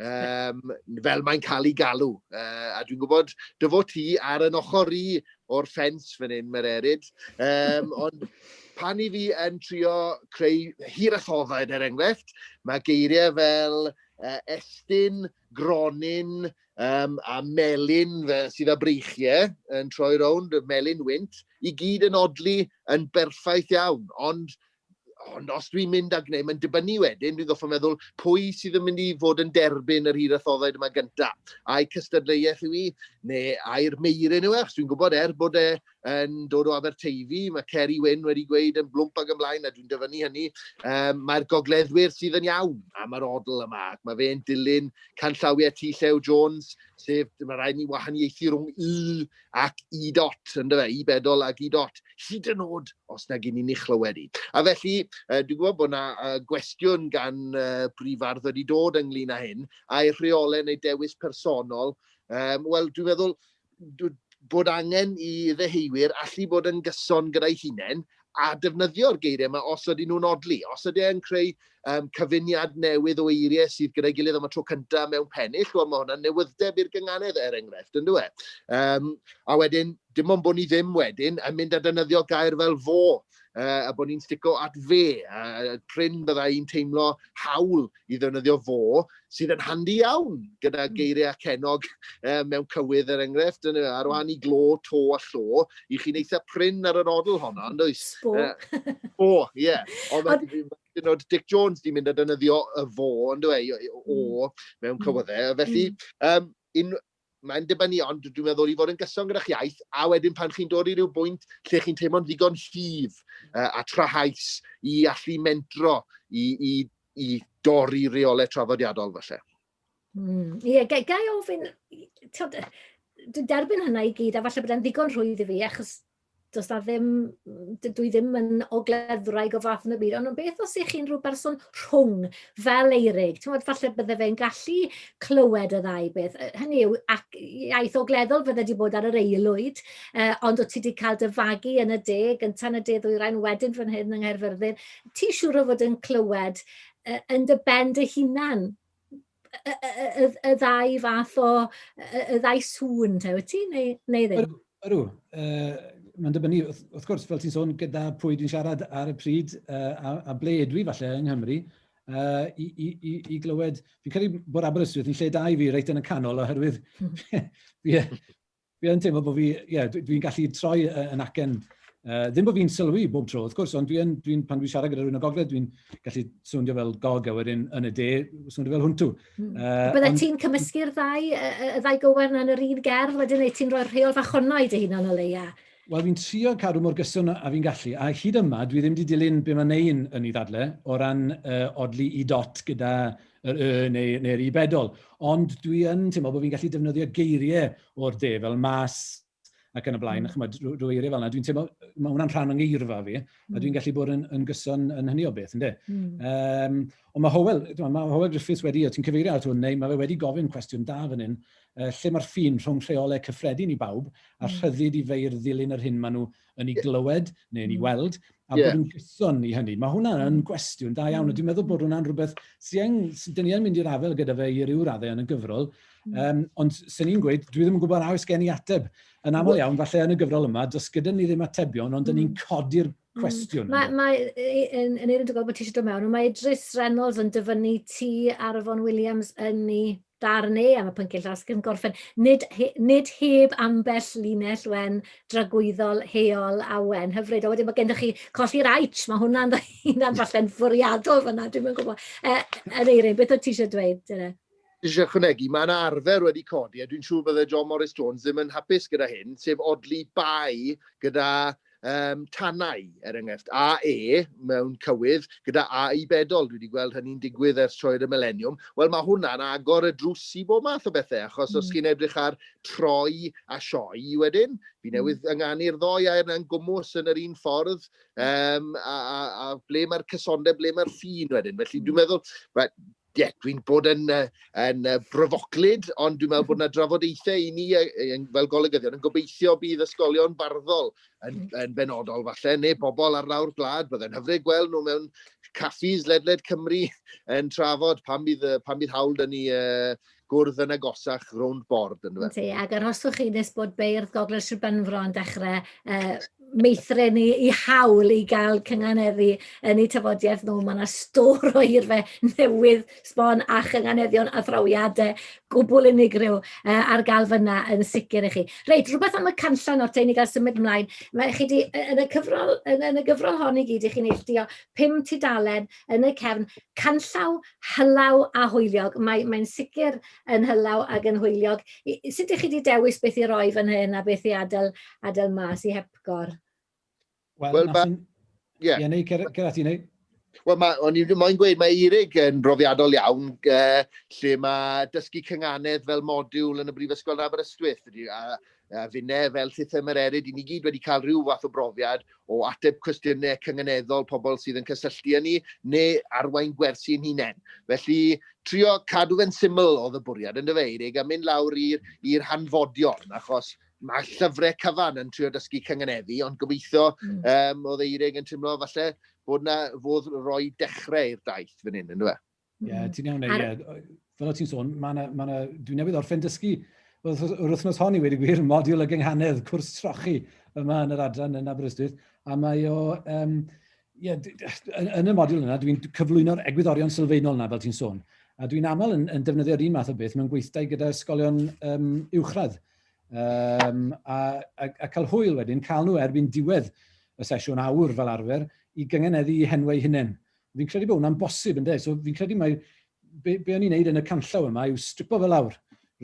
um, fel mae'n cael ei galw. Uh, a dwi'n gwybod, dy fod ti ar yn ochr i o'r ffens fan hyn, mae'r erid. Um, ond pan i fi yn trio creu hir a thofaid, er enghraifft, mae geiriau fel uh, estyn, gronyn um, a melin fe, sydd â breichiau yn troi rownd, y melin wynt, i gyd yn odlu yn berffaith iawn. Ond ond os dwi'n mynd a gwneud, mae'n dibynnu wedyn, dwi'n goffa meddwl, pwy sydd yn mynd i fod yn derbyn yr hir athoddaid yma gyntaf? Ai cystadleuaeth yw i, neu ai'r meirin yw e? Dwi'n gwybod er bod e yn dod o Aberteifi, mae Ceri Wyn wedi gweud yn blwmp ag ymlaen, a dwi'n dyfynnu hynny, um, mae'r gogleddwyr sydd yn iawn am yr odl yma, ac mae fe'n dilyn canllawiau T. Llew Jones, sef mae rhaid ni wahaniaethu rhwng y ac i dot, yn dyfe, i bedol ac i dot, hyd yn oed os na gyn ni chlywed i. A felly, uh, dwi'n gwybod bod yna uh, gwestiwn gan uh, brifardd wedi dod ynglyn â hyn, a'i rheolau neu dewis personol. Um, Wel, dwi'n meddwl, bod angen i ddeheuwyr allu bod yn gyson gyda'i hunain a defnyddio'r geiriau yma os ydyn nhw'n odli, os ydyn nhw'n creu um, cyfuniad newydd o eiriau sydd gyda'i gilydd am y tro cyntaf mewn pennill, wel mae hwnna'n newyddeb i'r gynganedd er enghraifft, yn dweud. E? Um, a wedyn, dim ond bod ni ddim wedyn yn mynd a defnyddio gair fel fo, uh, a bod ni'n stico at fe, a pryn byddai i'n teimlo hawl i ddefnyddio fo, sydd yn handi iawn gyda hmm. geiriau cenog eh, mewn cywydd er enghraifft, yn, ar hmm. wahân i glo, to a llo, i chi'n eitha prin ar yr odl honno, yn dweud? Sbo. Uh, sbo, ie. Yeah. Ond mae dyn o'r Dick Jones di mynd a dynyddio y fo, yn dweud, o, hmm. mewn cywyddau. Felly, um, un, mae'n dibynnu ond dwi'n meddwl i fod yn gyson gyda'ch iaith, a wedyn pan chi'n dod i ryw bwynt lle chi'n teimlo'n ddigon llif uh, a trahaus i allu mentro i, i, i dorri reolau traddodiadol felly. Mm. Ie, yeah, gai ofyn, dwi'n derbyn hynna i gyd, a falle bod e'n ddigon rhwydd i fi, achos does 'na ddim... dydw i ddim yn ogleddwraig o fath yna byd, ond beth os ych chi'n rhyw berson rhwng fel Eirig, timod, falle bydde fe'n gallu clywed y ddau beth. Hynny yw, ac iaith ogleddol fydde wedi bod ar yr eilwyd, uh, ond o ti wedi cael dy fagu yn y de, gyntaf yn y de ddwyrain, wedyn fan hyn yng Nghaerfyrddin, ti siŵr o fod yn clywed uh, yn dy ben dy hunan y y y y y ddau fath o y y y ddau sŵn te, wyt ti, neu neu ddim? Ydw, ydw. Yy, mae'n dibynnu, wrth wrth gwrs, fel ti'n sôn, gyda pwy dwi'n siarad ar y pryd, yy, a a ble ydw i falle yng Nghymru, yy, i i i i glywed... Fi'n credu bod Aberystwyth yn lle da i fi, reit yn y canol, oherwydd fi fi Fi yn teimlo bod fi, ie, yeah, dwi'n gallu troi yn acen. Uh, ddim bod fi'n sylwi bob tro, wrth gwrs, ond dwi'n, dwi pan dwi'n siarad gyda rhywun o gogledd, dwi'n gallu swndio fel gog a wedyn yn y de, swndio fel hwntw. Mm. Uh, Byddai ond... ti'n cymysgu'r ddau, y ddau gywer yn yr un gerdd, wedyn ei ti'n rhoi'r rheol fach honno i dy hunan o leia? Wel, fi'n trio cadw mor gyson a fi'n gallu, a hyd yma, dwi ddim wedi dilyn be mae Nein yn ei ddadle o ran uh, odli i dot gyda yr y neu, neu'r i bedol. Ond dwi yn teimlo bod fi'n gallu defnyddio geiriau o'r de fel mas ac yn y blaen, mm. chymod, rhyw eiriau fel yna. Dwi'n teimlo, mae hwnna'n rhan o'n geirfa fi, mm. a dwi'n mm. gallu bod yn, yn gyson yn hynny o beth, ynddo. Mm. Um, ond mae Howell, mae Howell Griffiths wedi, o ti'n cyfeirio at hwn, neu mae fe wedi gofyn cwestiwn da fan hyn, uh, lle mae'r ffin rhwng rheolau cyffredin i bawb a mm. rhyddid i feir ddilyn yr hyn maen nhw yn ei glywed neu yn ei weld, a bod yn gyson i hynny. Mae hwnna yn gwestiwn da iawn, a dwi'n meddwl bod hwnna'n rhywbeth sy'n, dyn ni yn mynd i'r afael gyda fe i ryw raddau yn y gyfrol, um, ond sy'n ni'n gweud, dwi ddim yn gwybod a oes gen i ateb. Yn aml iawn, falle yn y gyfrol yma, does gyda ni ddim atebion, ond dyn ni'n mm. codi'r mm. cwestiwn. Mae, mae, yn, yn Eirin, dwi'n gweld bod ti eisiau dod mewn, mae Idris Reynolds yn dyfynnu ti ar y Fon Williams yn ni Darn E am y pynciau llawysgrif yn gorffen. Nid, he, nid heb ambell linell wen dragwyddol heol a wen hyfryd. A wedyn mae gennych chi colli'r aic, mae hwnna'n dda hynna'n falle'n fwriadol fyna, dwi'n mynd gwybod. E, yn eirin, beth oedd ti eisiau dweud? Dyna? eisiau chwnegu, mae yna arfer wedi codi, a dwi'n siŵr byddai John Morris Jones ddim yn hapus gyda hyn, sef odli bai gyda um, tanau, er enghraifft, AE mewn cywydd gyda AE bedol. Dwi wedi gweld hynny'n digwydd ers troi'r y mileniwm. Wel, mae hwnna'n agor y drws i bob math o bethau, achos mm. os hmm. chi'n edrych ar troi a sioi wedyn, fi hmm. newydd ynganu'r ddoi air na'n gwmwys yn yr un ffordd, um, a, a, a ble mae'r cysondeb, ble mae'r ffin wedyn. Felly dwi'n hmm. meddwl, Ie, yeah, dwi'n bod yn, uh, yn uh, bryfoclyd, ond dwi'n meddwl bod yna drafodaethau i ni uh, fel golygyddion yn gobeithio bydd ysgolion barddol yn, mm. yn benodol falle, neu bobl ar lawr gwlad, byddai'n hyfryd gweld nhw mewn caffis ledled Cymru yn trafod pan bydd, pan bydd hawl dyn ni uh, gwrdd yn agosach rownd bord yndyfe? Yndi, ac arhoswch chi nes bod beirdd Gogledd Sir Benfro yn dechrau uh, meithrin i, i hawl i gael cynganeddu yn eu tafodiaeth nhw. Mae yna stor o hirfe newydd sbon a chynganeddion a thrawiadau gwbl unigryw uh, ar gael fyna yn sicr i chi. Reit, rhywbeth am y canllan o'r tein i gael symud ymlaen. Mae chi di, yn, y cyfrol, yn, yn y gyfrol hon i gyd, i chi'n neilltuo pum tudalen yn y cefn canllaw hylaw a hwyliog. Mae, mae'n sicr yn hylaw ac yn hwyliog. Sut ydych chi wedi dewis beth i roi fan hyn a beth i adael, adael mas i hepgor? Wel, well, mae... Ie, yeah. yeah, neu Gerard, ti'n neud? Wel, mae, o'n i'n moyn gweud, mae Eirig yn brofiadol iawn, uh, lle mae dysgu cynganedd fel modiwl yn y Brifysgol yn Aberystwyth, a uh, finne fel system yr erid, i ni gyd wedi cael rhyw fath o brofiad o ateb cwestiynau cyngeneddol pobl sydd yn cysylltu â ni, neu arwain gwersi yn hunain. Felly, trio cadw fe'n syml oedd y bwriad, yn dyfe, Eirig, a mynd lawr i'r hanfodion, achos mae llyfrau cyfan yn trio dysgu cyngeneddu, ond gobeithio mm. um, oedd Eirig yn teimlo falle bod na fodd roi dechrau i'r daith fan hyn, yn dyfe? Ie, yeah, ti'n iawn, ie. Yeah. Fel o ti'n sôn, ma na, ma na, dwi'n newydd orffen dysgu yr wythnos hon i wedi gwir, modiwl y gynghanedd, cwrs trochi yma yn yr adran yn Aberystwyth, a mae o, um, yeah, yn, yn y modiwl yna, dwi'n cyflwyno'r egwyddorion sylfaenol yna, fel ti'n sôn. A dwi'n aml yn, yn defnyddio'r un math o beth mewn gweithdai gyda ysgolion um, uwchradd. Um, a, a, a cael hwyl wedyn, cael nhw erbyn diwedd y sesiwn awr fel arfer i gyngeneddu henwau hunain. Fi'n credu bod hwnna'n bosib, ynddo. So, fi'n credu mae... Be, be o'n i'n neud yn y canllaw yma yw stripo fel awr.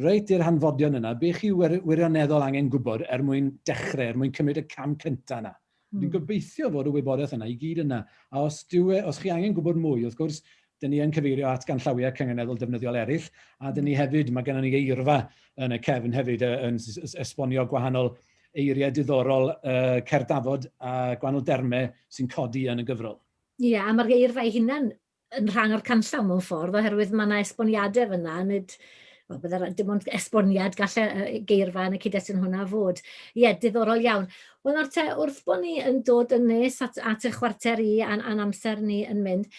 Reit i'r hanfodion yna, be chi wirioneddol angen gwybod er mwyn dechrau, er mwyn cymryd y cam cyntaf yna. Mm. Fi'n hmm. gobeithio fod y wybodaeth yna i gyd yna. A os, diwe, os chi angen gwybod mwy, wrth gwrs, dyn ni yn cyfeirio at ganllawiau cynganeddol defnyddiol eraill, a dyn ni hmm. hefyd, mae gennym ni eirfa yn y cefn hefyd yn esbonio gwahanol eiriau diddorol uh, cerddafod a gwahanol dermau sy'n codi yn y gyfrol. Ie, a mae'r geirfa ei hunan yn rhan o'r canllaw mewn ffordd, oherwydd mae yna esboniadau fyna, nid, wel, byddai'r, dim ond esboniad gall y geirfa yn y cyd-destun hwnna fod. Ie, diddorol iawn. Wel, nawr te, wrth bod ni yn dod yn nes at, at y chwarter i a'n, an amser ni yn mynd,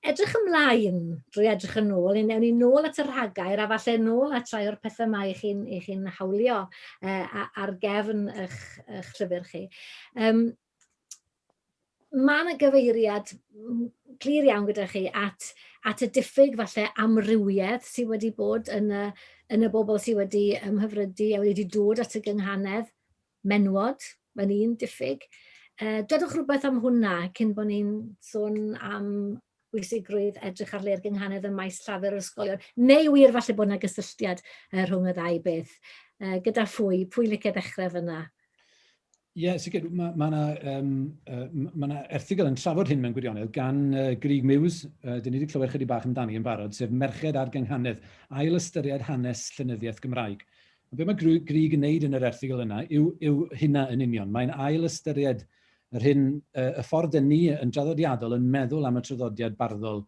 edrych ymlaen, drwy edrych yn ôl, yn ewn ni nôl at y rhagair a falle nôl at rai o'r pethau mae chi chi hawlio uh, ar gefn eich, eich llyfr chi. Um, mae yna gyfeiriad clir iawn gyda chi at, at y diffyg falle amrywiaeth sydd wedi bod yn y, yn y bobl sydd wedi ymhyfrydu a wedi dod at y gynghanedd menwod, mae'n un diffyg. Uh, dodwch rhywbeth am hwnna cyn bod ni'n sôn am pwysigrwydd edrych ar le'r gynghanedd ym maes llafur yr ysgolion, neu wir falle bod yna gysylltiad uh, rhwng y ddau beth. Uh, gyda phwy? Pwy licio dechrau fyna? Ie, yeah, sicr, mae yna ma um, uh, ma erthigol yn trafod hyn mewn gwirionedd gan uh, Grig Muse, uh, dyn ni wedi clywed chydig bach amdani yn barod, sef Merched ar Gynghanedd, ail ystyried hanes llenyddiaeth Gymraeg. A beth mae Grig yn wneud yn yr erthigol yna yw, yw hynna yn union. Mae'n ail ystyried uh, Yr hyn y y ffordd dŷn ni yn draddodiadol yn meddwl am y traddodiad barddol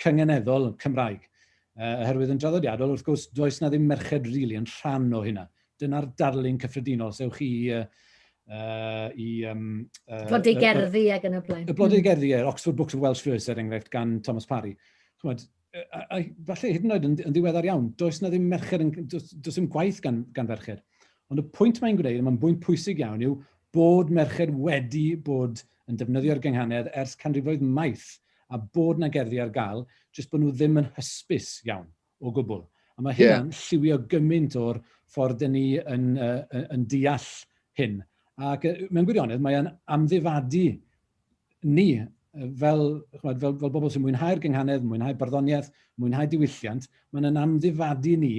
cyngeneddol Cymraeg. Y oherwydd yn draddodiadol, wrth gwrs, does 'na ddim merched rili yn rhan o hynna. Dyna'r darlun cyffredinol, os ewch chi i y yy i yym... Y blodau gerddi ag yn y blaen. Y blodau gerddi, ie, Oxford Books of Welsh Verse, er enghraifft, gan Thomas Parry. Chimod, a, falle hyd yn oed yn, yn ddiweddar iawn, does na ddim merched, yn, does, does ddim gwaith gan, gan ferched. Ond y pwynt mae'n gwneud, mae'n bwynt pwysig iawn, yw bod merched wedi bod yn defnyddio'r gynghanedd ers canrifoedd maith a bod na gerddi ar gael, jyst bod nhw ddim yn hysbys iawn o gwbl. A mae hynna'n yeah. lliwio gymaint o'r ffordd dyn ni yn, uh, yn deall hyn. Ac mewn gwirionedd, mae'n amddifadu ni, fel, chwbad, fel, fel bobl sy'n mwynhau'r gynghanedd, mwynhau barddoniaeth, mwynhau diwylliant, mae'n yn amddifadu ni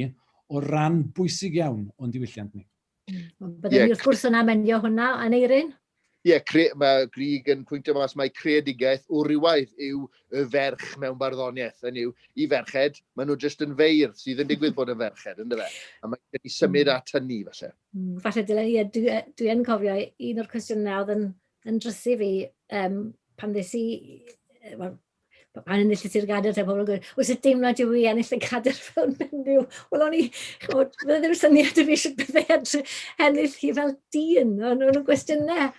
o ran bwysig iawn o'n diwylliant ni. Mm. Byddwn yeah. ni wrth gwrs yn amenio hwnna, Aneirin? Ie, yeah, cre, mae Grig yn pwyntio mas mae creadigaeth o rywaidd yw y ferch mewn barddoniaeth. Yn yw, i ferched, maen nhw jyst yn feirdd sydd yn digwydd bod yn ferched, ynddo fe? A mae gen i symud hmm. at hynny, falle. Mm, falle, dylen i, dwi, dwi yn cofio un o'r cwestiynau oedd yn Yn drist i fi, yym, pan ddes i, yy, wel, p- pan enillais i'r gadair te, pobl yn gweud, o, sut deimlad yw i ennill y cadair fel menyw? Wel, o'n i, chimod, fydde ddim syniad i fi sut bydde edrych ennill hi fel dyn. O'n nhw'n gwestiynau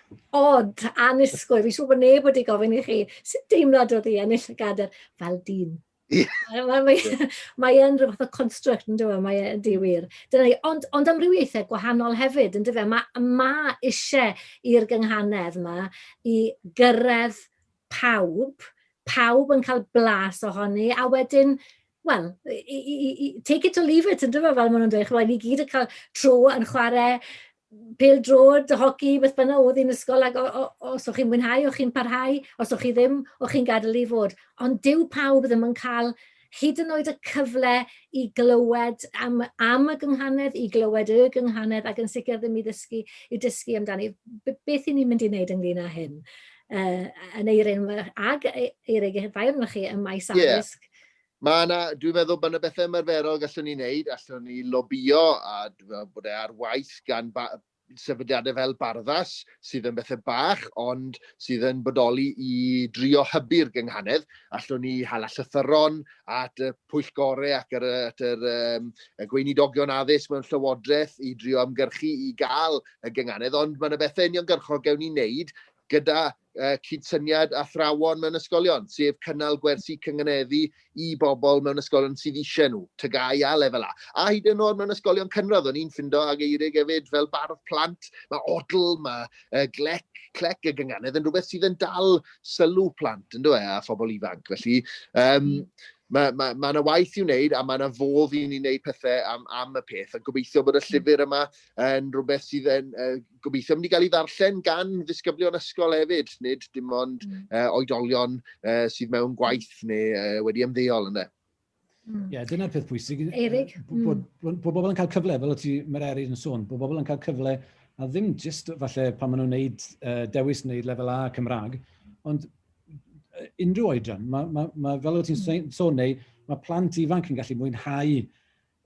od, annisgwyl. Fi'n siŵr bod neb wedi gofyn i chi, sut deimlad oedd i ennill y gadair fel dyn? Ie. Mae, mae, mae yn rhywbeth o construct yn dweud, mae yn di wir. Dyna ni, ond, ond amrywiaethau gwahanol hefyd yn dweud. Mae ma eisiau i'r gynghanedd yma i gyrraedd pawb, pawb yn cael blas ohoni, a wedyn wel, take it or leave it, yn dyma fel maen nhw'n dweud, chwa, ni gyd yn cael trwy yn chwarae pêl-droed, hoci, beth bynnag oedd hi'n ysgol, ac os o'ch chi'n mwynhau, o'ch chi'n parhau, os o'ch chi ddim, o'ch chi'n gadael i fod. Ond dyw pawb ddim yn cael hyd yn oed y cyfle i glywed am am y gynghanedd, i glywed y gynghanedd, ac yn sicr ddim i ddysgu i dysgu amdani. Beth i ni'n mynd i wneud ynglyn â hyn? Uh, yn eiryn ag eiryn eich ddau chi ym maes addysg? Yeah. Mae yna, dwi'n meddwl, mae yna bethau ymarferol gallwn ni wneud, allwn ni lobio, a dwi'n meddwl bod e ar waith gan ba, sefydliadau fel Barddas, sydd yn bethau bach, ond sydd yn bodoli i drio hybu'r gynghanedd. Allwn ni hala llythyron at y pwyllgorau ac ar, at yr, um, y gweinidogion addysg mewn llywodraeth i drio ymgyrchu i gael y gynghanedd, ond mae yna bethau uniongyrchol gewn ni wneud gyda uh, cydsyniad athrawon mewn ysgolion, sef cynnal gwersi cynganeddu i bobl mewn ysgolion sydd eisiau nhw, tygau a lefel A. A hyd yn oed mewn ysgolion cynradd, o'n i'n ffindo ag eirig hefyd fel bardd plant, mae odl, mae uh, glec, clec y gynganedd yn rhywbeth sydd yn dal sylw plant, yn dweud, e, a phobl ifanc. Felly, um, mae yna ma, ma, ma waith i wneud a mae yna fodd i ni wneud pethau am, am y peth a gobeithio bod y llyfr yma yn rhywbeth sydd yn uh, gobeithio mynd i gael ei ddarllen gan ddisgyblion ysgol hefyd, nid dim ond mm. uh, oedolion uh, sydd mewn gwaith neu uh, wedi ymddeol yna. Mm. Ie, mm. yeah, dyna'r peth pwysig. Erig. Mm. Bod, bod, bod bobl yn cael cyfle, fel o ti, mae'r Erig yn sôn, bod bobl yn cael cyfle, a ddim jyst falle pan maen nhw'n gwneud uh, dewis neu lefel A Cymraeg, ond unrhyw oedran, mae, ma, ma, fel o ti'n mm. sôn neu, mae plant ifanc yn gallu mwynhau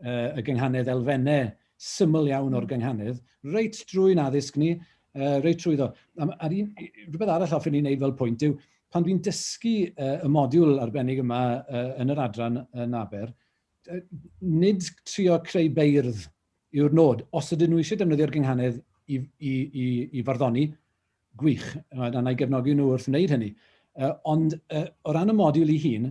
uh, y gynghanedd, elfennau syml iawn o'r hmm. gynghanedd, reit drwy'n addysg ni, uh, reit trwy ddo. A'r un, rhywbeth arall ofyn i'n neud fel pwynt yw, pan dwi'n dysgu uh, y modiwl arbennig yma uh, yn yr adran yn Aber, uh, nid trio creu beirdd yw'r nod. Os ydyn nhw eisiau defnyddio'r gynghanedd i, i, i, i farddoni, gwych, a na i gefnogi nhw wrth wneud hynny. Uh, ond uh, o ran y modiwl i hun,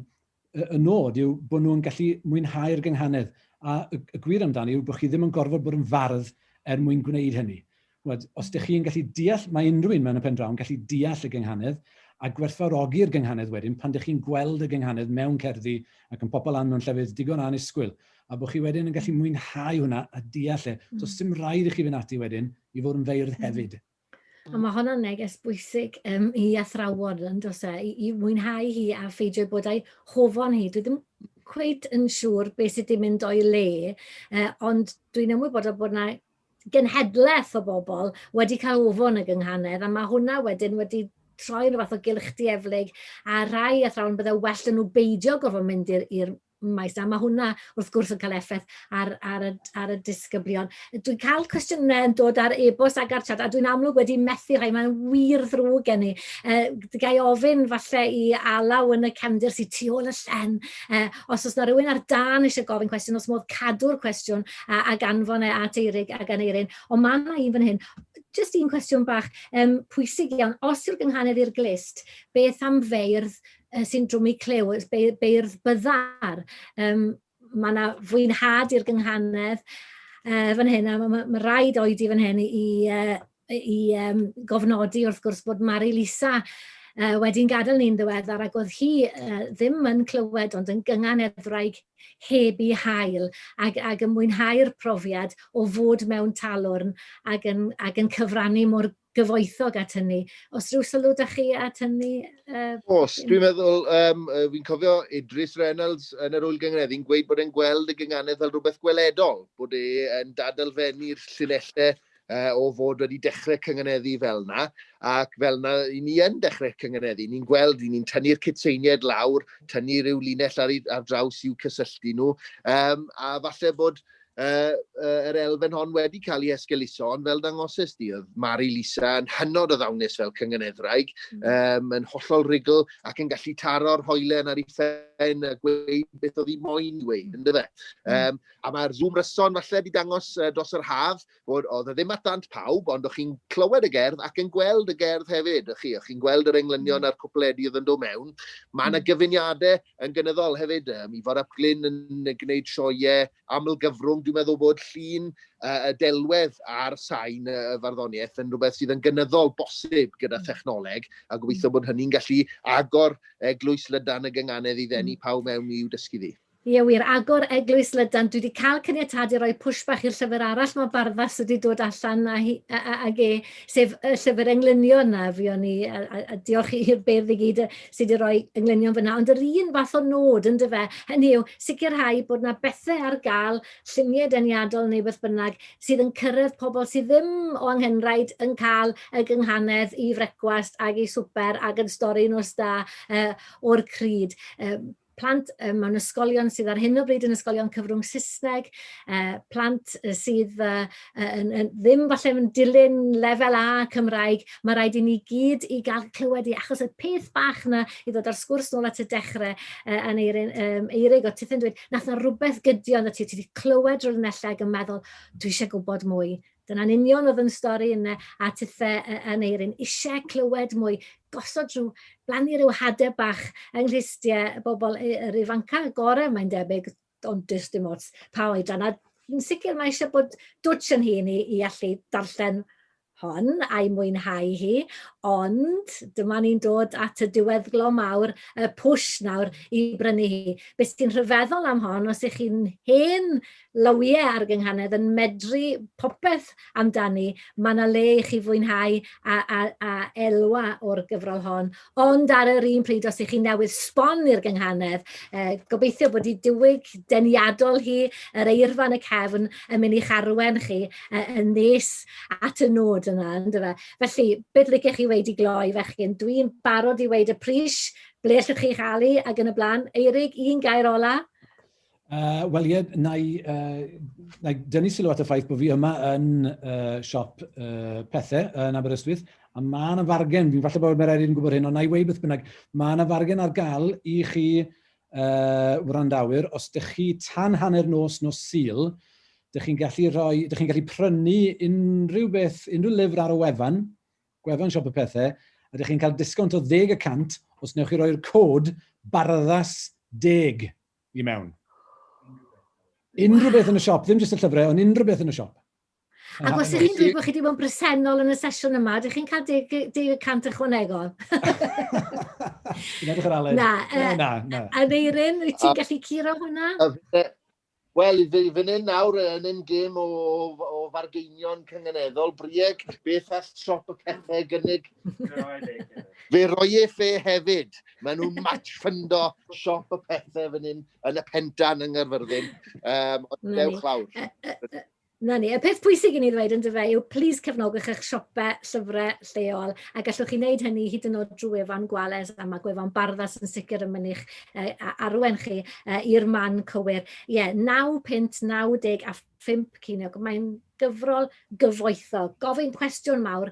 y nod yw bod nhw'n gallu mwynhau'r gynghanedd, a y, y gwir amdani yw bod chi ddim yn gorfod bod yn fardd er mwyn gwneud hynny. Wed, os ydych chi'n gallu deall, mae unrhyw un mewn y pen draw yn gallu deall y gynghanedd a gwerthfawrogi'r gynghanedd wedyn pan ydych chi'n gweld y gynghanedd mewn cerddi ac yn pobl lan mewn llefydd digon anusgwyl a bod chi wedyn yn gallu mwynhau hwnna a deall e. Mm. Does dim rhaid i chi fynd ati wedyn i fod yn feirdd mm. hefyd. A mm. mae hwnna'n neges bwysig um, i athrawon, yn dos e, i, i mwynhau hi a pheidio bod a'i hofon hi. Dwi ddim cweit yn siŵr beth sydd wedi mynd o'i le, uh, ond dwi'n ymwybodol bod yna genhedlaeth o bobl wedi cael ofon y gynghanedd, a mae hwnna wedyn wedi troi rhywbeth o gylch dieflig, a rhai athrawon byddai well yn nhw beidio gofod mynd i'r maes 'na. Mae hwnna wrth gwrs yn cael effaith ar, ar, y, ar y disgyblion. Dwi'n cael cwestiynau yn dod ar e-bost ac ar chat, a dwi'n amlwg wedi methu rhai, mae'n wir ddrwg gen i. Uh, gai ofyn falle i alaw yn y cefndir sy'n tu ôl y llen, uh, os oes yna rhywun ar dan eisiau gofyn cwestiwn, os modd cadw'r cwestiwn a, a ganfon e at Eirig a gan Eirin. Ond mae yna un fan hyn, jyst un cwestiwn bach um, pwysig iawn. Os yw'r gynghanedd i'r glist, beth am feirdd y syndrom i clyw, beirdd byddar. Um, mae yna fwynhad i'r gynghanedd uh, fan hyn, a mae ma, ma rhaid oedi fan hyn i, uh, i um, gofnodi wrth gwrs bod Mari Lisa uh, wedi'n gadael ni'n ddiweddar ac oedd hi uh, ddim yn clywed ond yn gyngan eddwraig heb i hael ac, ac yn mwynhau'r profiad o fod mewn talwrn ac yn, ac yn cyfrannu mor gyfoethog at hynny. Os rhyw sylw da chi at hynny? Uh, Os, dwi'n meddwl, um, fi'n cofio Idris Reynolds yn yr Wyl Gyngreddi'n gweud bod e'n gweld y gynganedd fel rhywbeth gweledol, bod e'n dadalfennu'r llinellau uh, o fod wedi dechrau cynganeddu fel yna, ac fel yna i ni yn dechrau cynganeddu. Ni'n gweld, ni'n tynnu'r cytseiniaid lawr, tynnu rhyw linell ar, ar draws i'w cysylltu nhw, um, a falle bod uh, uh, yr elfen hon wedi cael ei esgeluso, ond fel dangoses di, oedd Mari Lisa yn hynod o ddawnus fel cyngeneddraig, mm. um, yn hollol rigl ac yn gallu taro'r hoelen ar ei ffen a gweud beth oedd hi moyn i weid, ynddo fe. Um, a mae'r Zoom ryson falle wedi dangos uh, dros yr haf, bod oedd e ddim at dant pawb, ond o'ch chi'n clywed y gerdd ac yn gweld y gerdd hefyd, o'ch chi, o'ch chi'n gweld yr englynion mm. a'r cwpledi oedd yn dod mewn. Mae yna mm. gyfuniadau yn gynyddol hefyd, um, Ifor Ap Glyn yn gwneud sioiau amlgyfrwng, dwi'n meddwl bod llun uh, delwedd ar sain y uh, farddoniaeth yn rhywbeth sydd yn gynyddol bosib gyda mm. thechnoleg, a gobeithio bod hynny'n gallu agor eglwys lydan y gynganedd i ddenu pawb mewn i'w dysgu ddi. Ie wir, agor eglwys lydan, dwi di cael caniatad i roi push bach i'r llyfr arall mae Barfas wedi dod allan a hi, a, a, ag e, sef y llyfr englynion na, fi o'n i, a, a, a diolch i'r beirdd i gyd sydd wedi rhoi englynion fyna, ond yr un fath o nod yn dyfe, hynny yw sicrhau bod na bethau ar gael, lluniau deniadol neu beth bynnag, sydd yn cyrraedd pobl sydd ddim o anghenraid yn cael y gynghanedd i frecwast ag i swper ag yn stori nos da uh, o'r cryd. Uh, plant mewn ysgolion sydd ar hyn o bryd yn ysgolion cyfrwng Saesneg, plant sydd ddim falle yn dilyn lefel A Cymraeg, mae rhaid i ni gyd i gael clywed i achos y peth bach yna i ddod o'r sgwrs nôl at y dechrau uh, yn Eirin, um, Eirig o Tithen dweud, nath na rhywbeth gydio na ti, ti wedi clywed rhywun ellau yn meddwl, dwi eisiau gwybod mwy, Dyna'n union oedd yn stori yn a tithe yn Eirin, eisiau clywed mwy, gosod rhyw, blannu rhyw hadau bach yng nghlustiau y bobl, yr ifancau y gorau mae'n debyg, ond does dim ots pa oedran, a yn sicr mae eisiau bod dwtsh yn hun i, i allu darllen hon a'i mwynhau hi, ond dyma ni'n dod at y diweddglo mawr, y pwsh nawr i brynu hi. Beth sy'n rhyfeddol am hon, os ych chi'n hen Lowie ar y gynghanedd yn medru popeth amdani. Mae yna le i chi fwynhau a, a, a elwa o'r gyfrol hon. Ond ar yr un pryd, os ych chi newydd sbon i'r gynghanedd, eh, gobeithio bod i diwyg deniadol hi, yr eirfa yn y cefn, yn mynd i'ch arwen chi eh, yn nes at y nod yna, ynddo fe? Felly, beth liciech chi wedi gloi, fechgyn? Dwi'n barod i wedi y pris, ble allwch chi'ch alu ac yn y blaen. Eirig, un gair ola? Uh, Wel ie, na i, uh, na i dynnu sylw at y ffaith bod fi yma yn uh, siop uh, pethau yn Aberystwyth, a mae yna fargen, fi'n falle bod mae'r eraill yn gwybod hyn, ond na i wei beth bynnag, mae yna fargen ar gael i chi uh, wrandawyr, os ydych chi tan hanner nos nos syl, Dych chi'n gallu rhoi, dych chi'n gallu prynu unrhyw beth, unrhyw lyfr ar y wefan, gwefan siop y pethau, a dych chi'n cael disgownt o 10 y cant os newch chi roi'r cod barddas 10 I mewn. Unrhyw beth yn y siop, ddim jyst y llyfrau, ond unrhyw beth yn y siop. Ac os ydych chi'n dweud bod chi wedi bod yn bresennol yn y sesiwn yma, ydych chi'n cael 10% ychwanegol? Yn edrych ar Aled. Na, na, na. A Neirin, wyt ti'n gallu curo hwnna? Wel, fi fan hyn nawr yn un gêm o, o fargeinion cyngeneddol, Brieg, beth all siop y pethau gynnig? fe roi e fe hefyd. Maen nhw'n match ffundo siop y pethau fan hyn yn y pendan yng Ngyrfyrddin. Um, ond dewch lawr. Na ni, y peth pwysig i ni ddweud yn dyfa yw plis cefnogwch eich siopau llyfrau lleol a gallwch chi wneud hynny hyd yn oed drwy efan gwales a mae gwefan barddas yn sicr yn mynych uh, arwen chi uh, i'r man cywir. Ie, yeah, 9 pint, 90 a 5 ceiniog. Mae'n gyfrol gyfoethog. Gofyn cwestiwn mawr,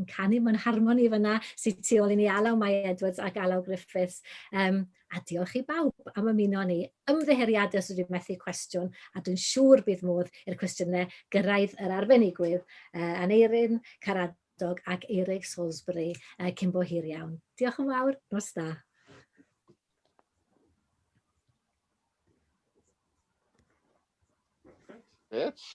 yn canu mewn harmoni fanna sy tu ôl i ni, Alaw Mai Edwards ac Alaw Griffiths. Um, a diolch i bawb am ymuno ni. Ymddiheuriadau os ydw methu cwestiwn, a dwi'n siŵr bydd modd i'r cwestiynau gyrraedd yr arbenigwydd, uh, Aneirin Caradog ac Eirig Salisbury uh, cyn bo hir iawn. Diolch yn fawr, nos da. It's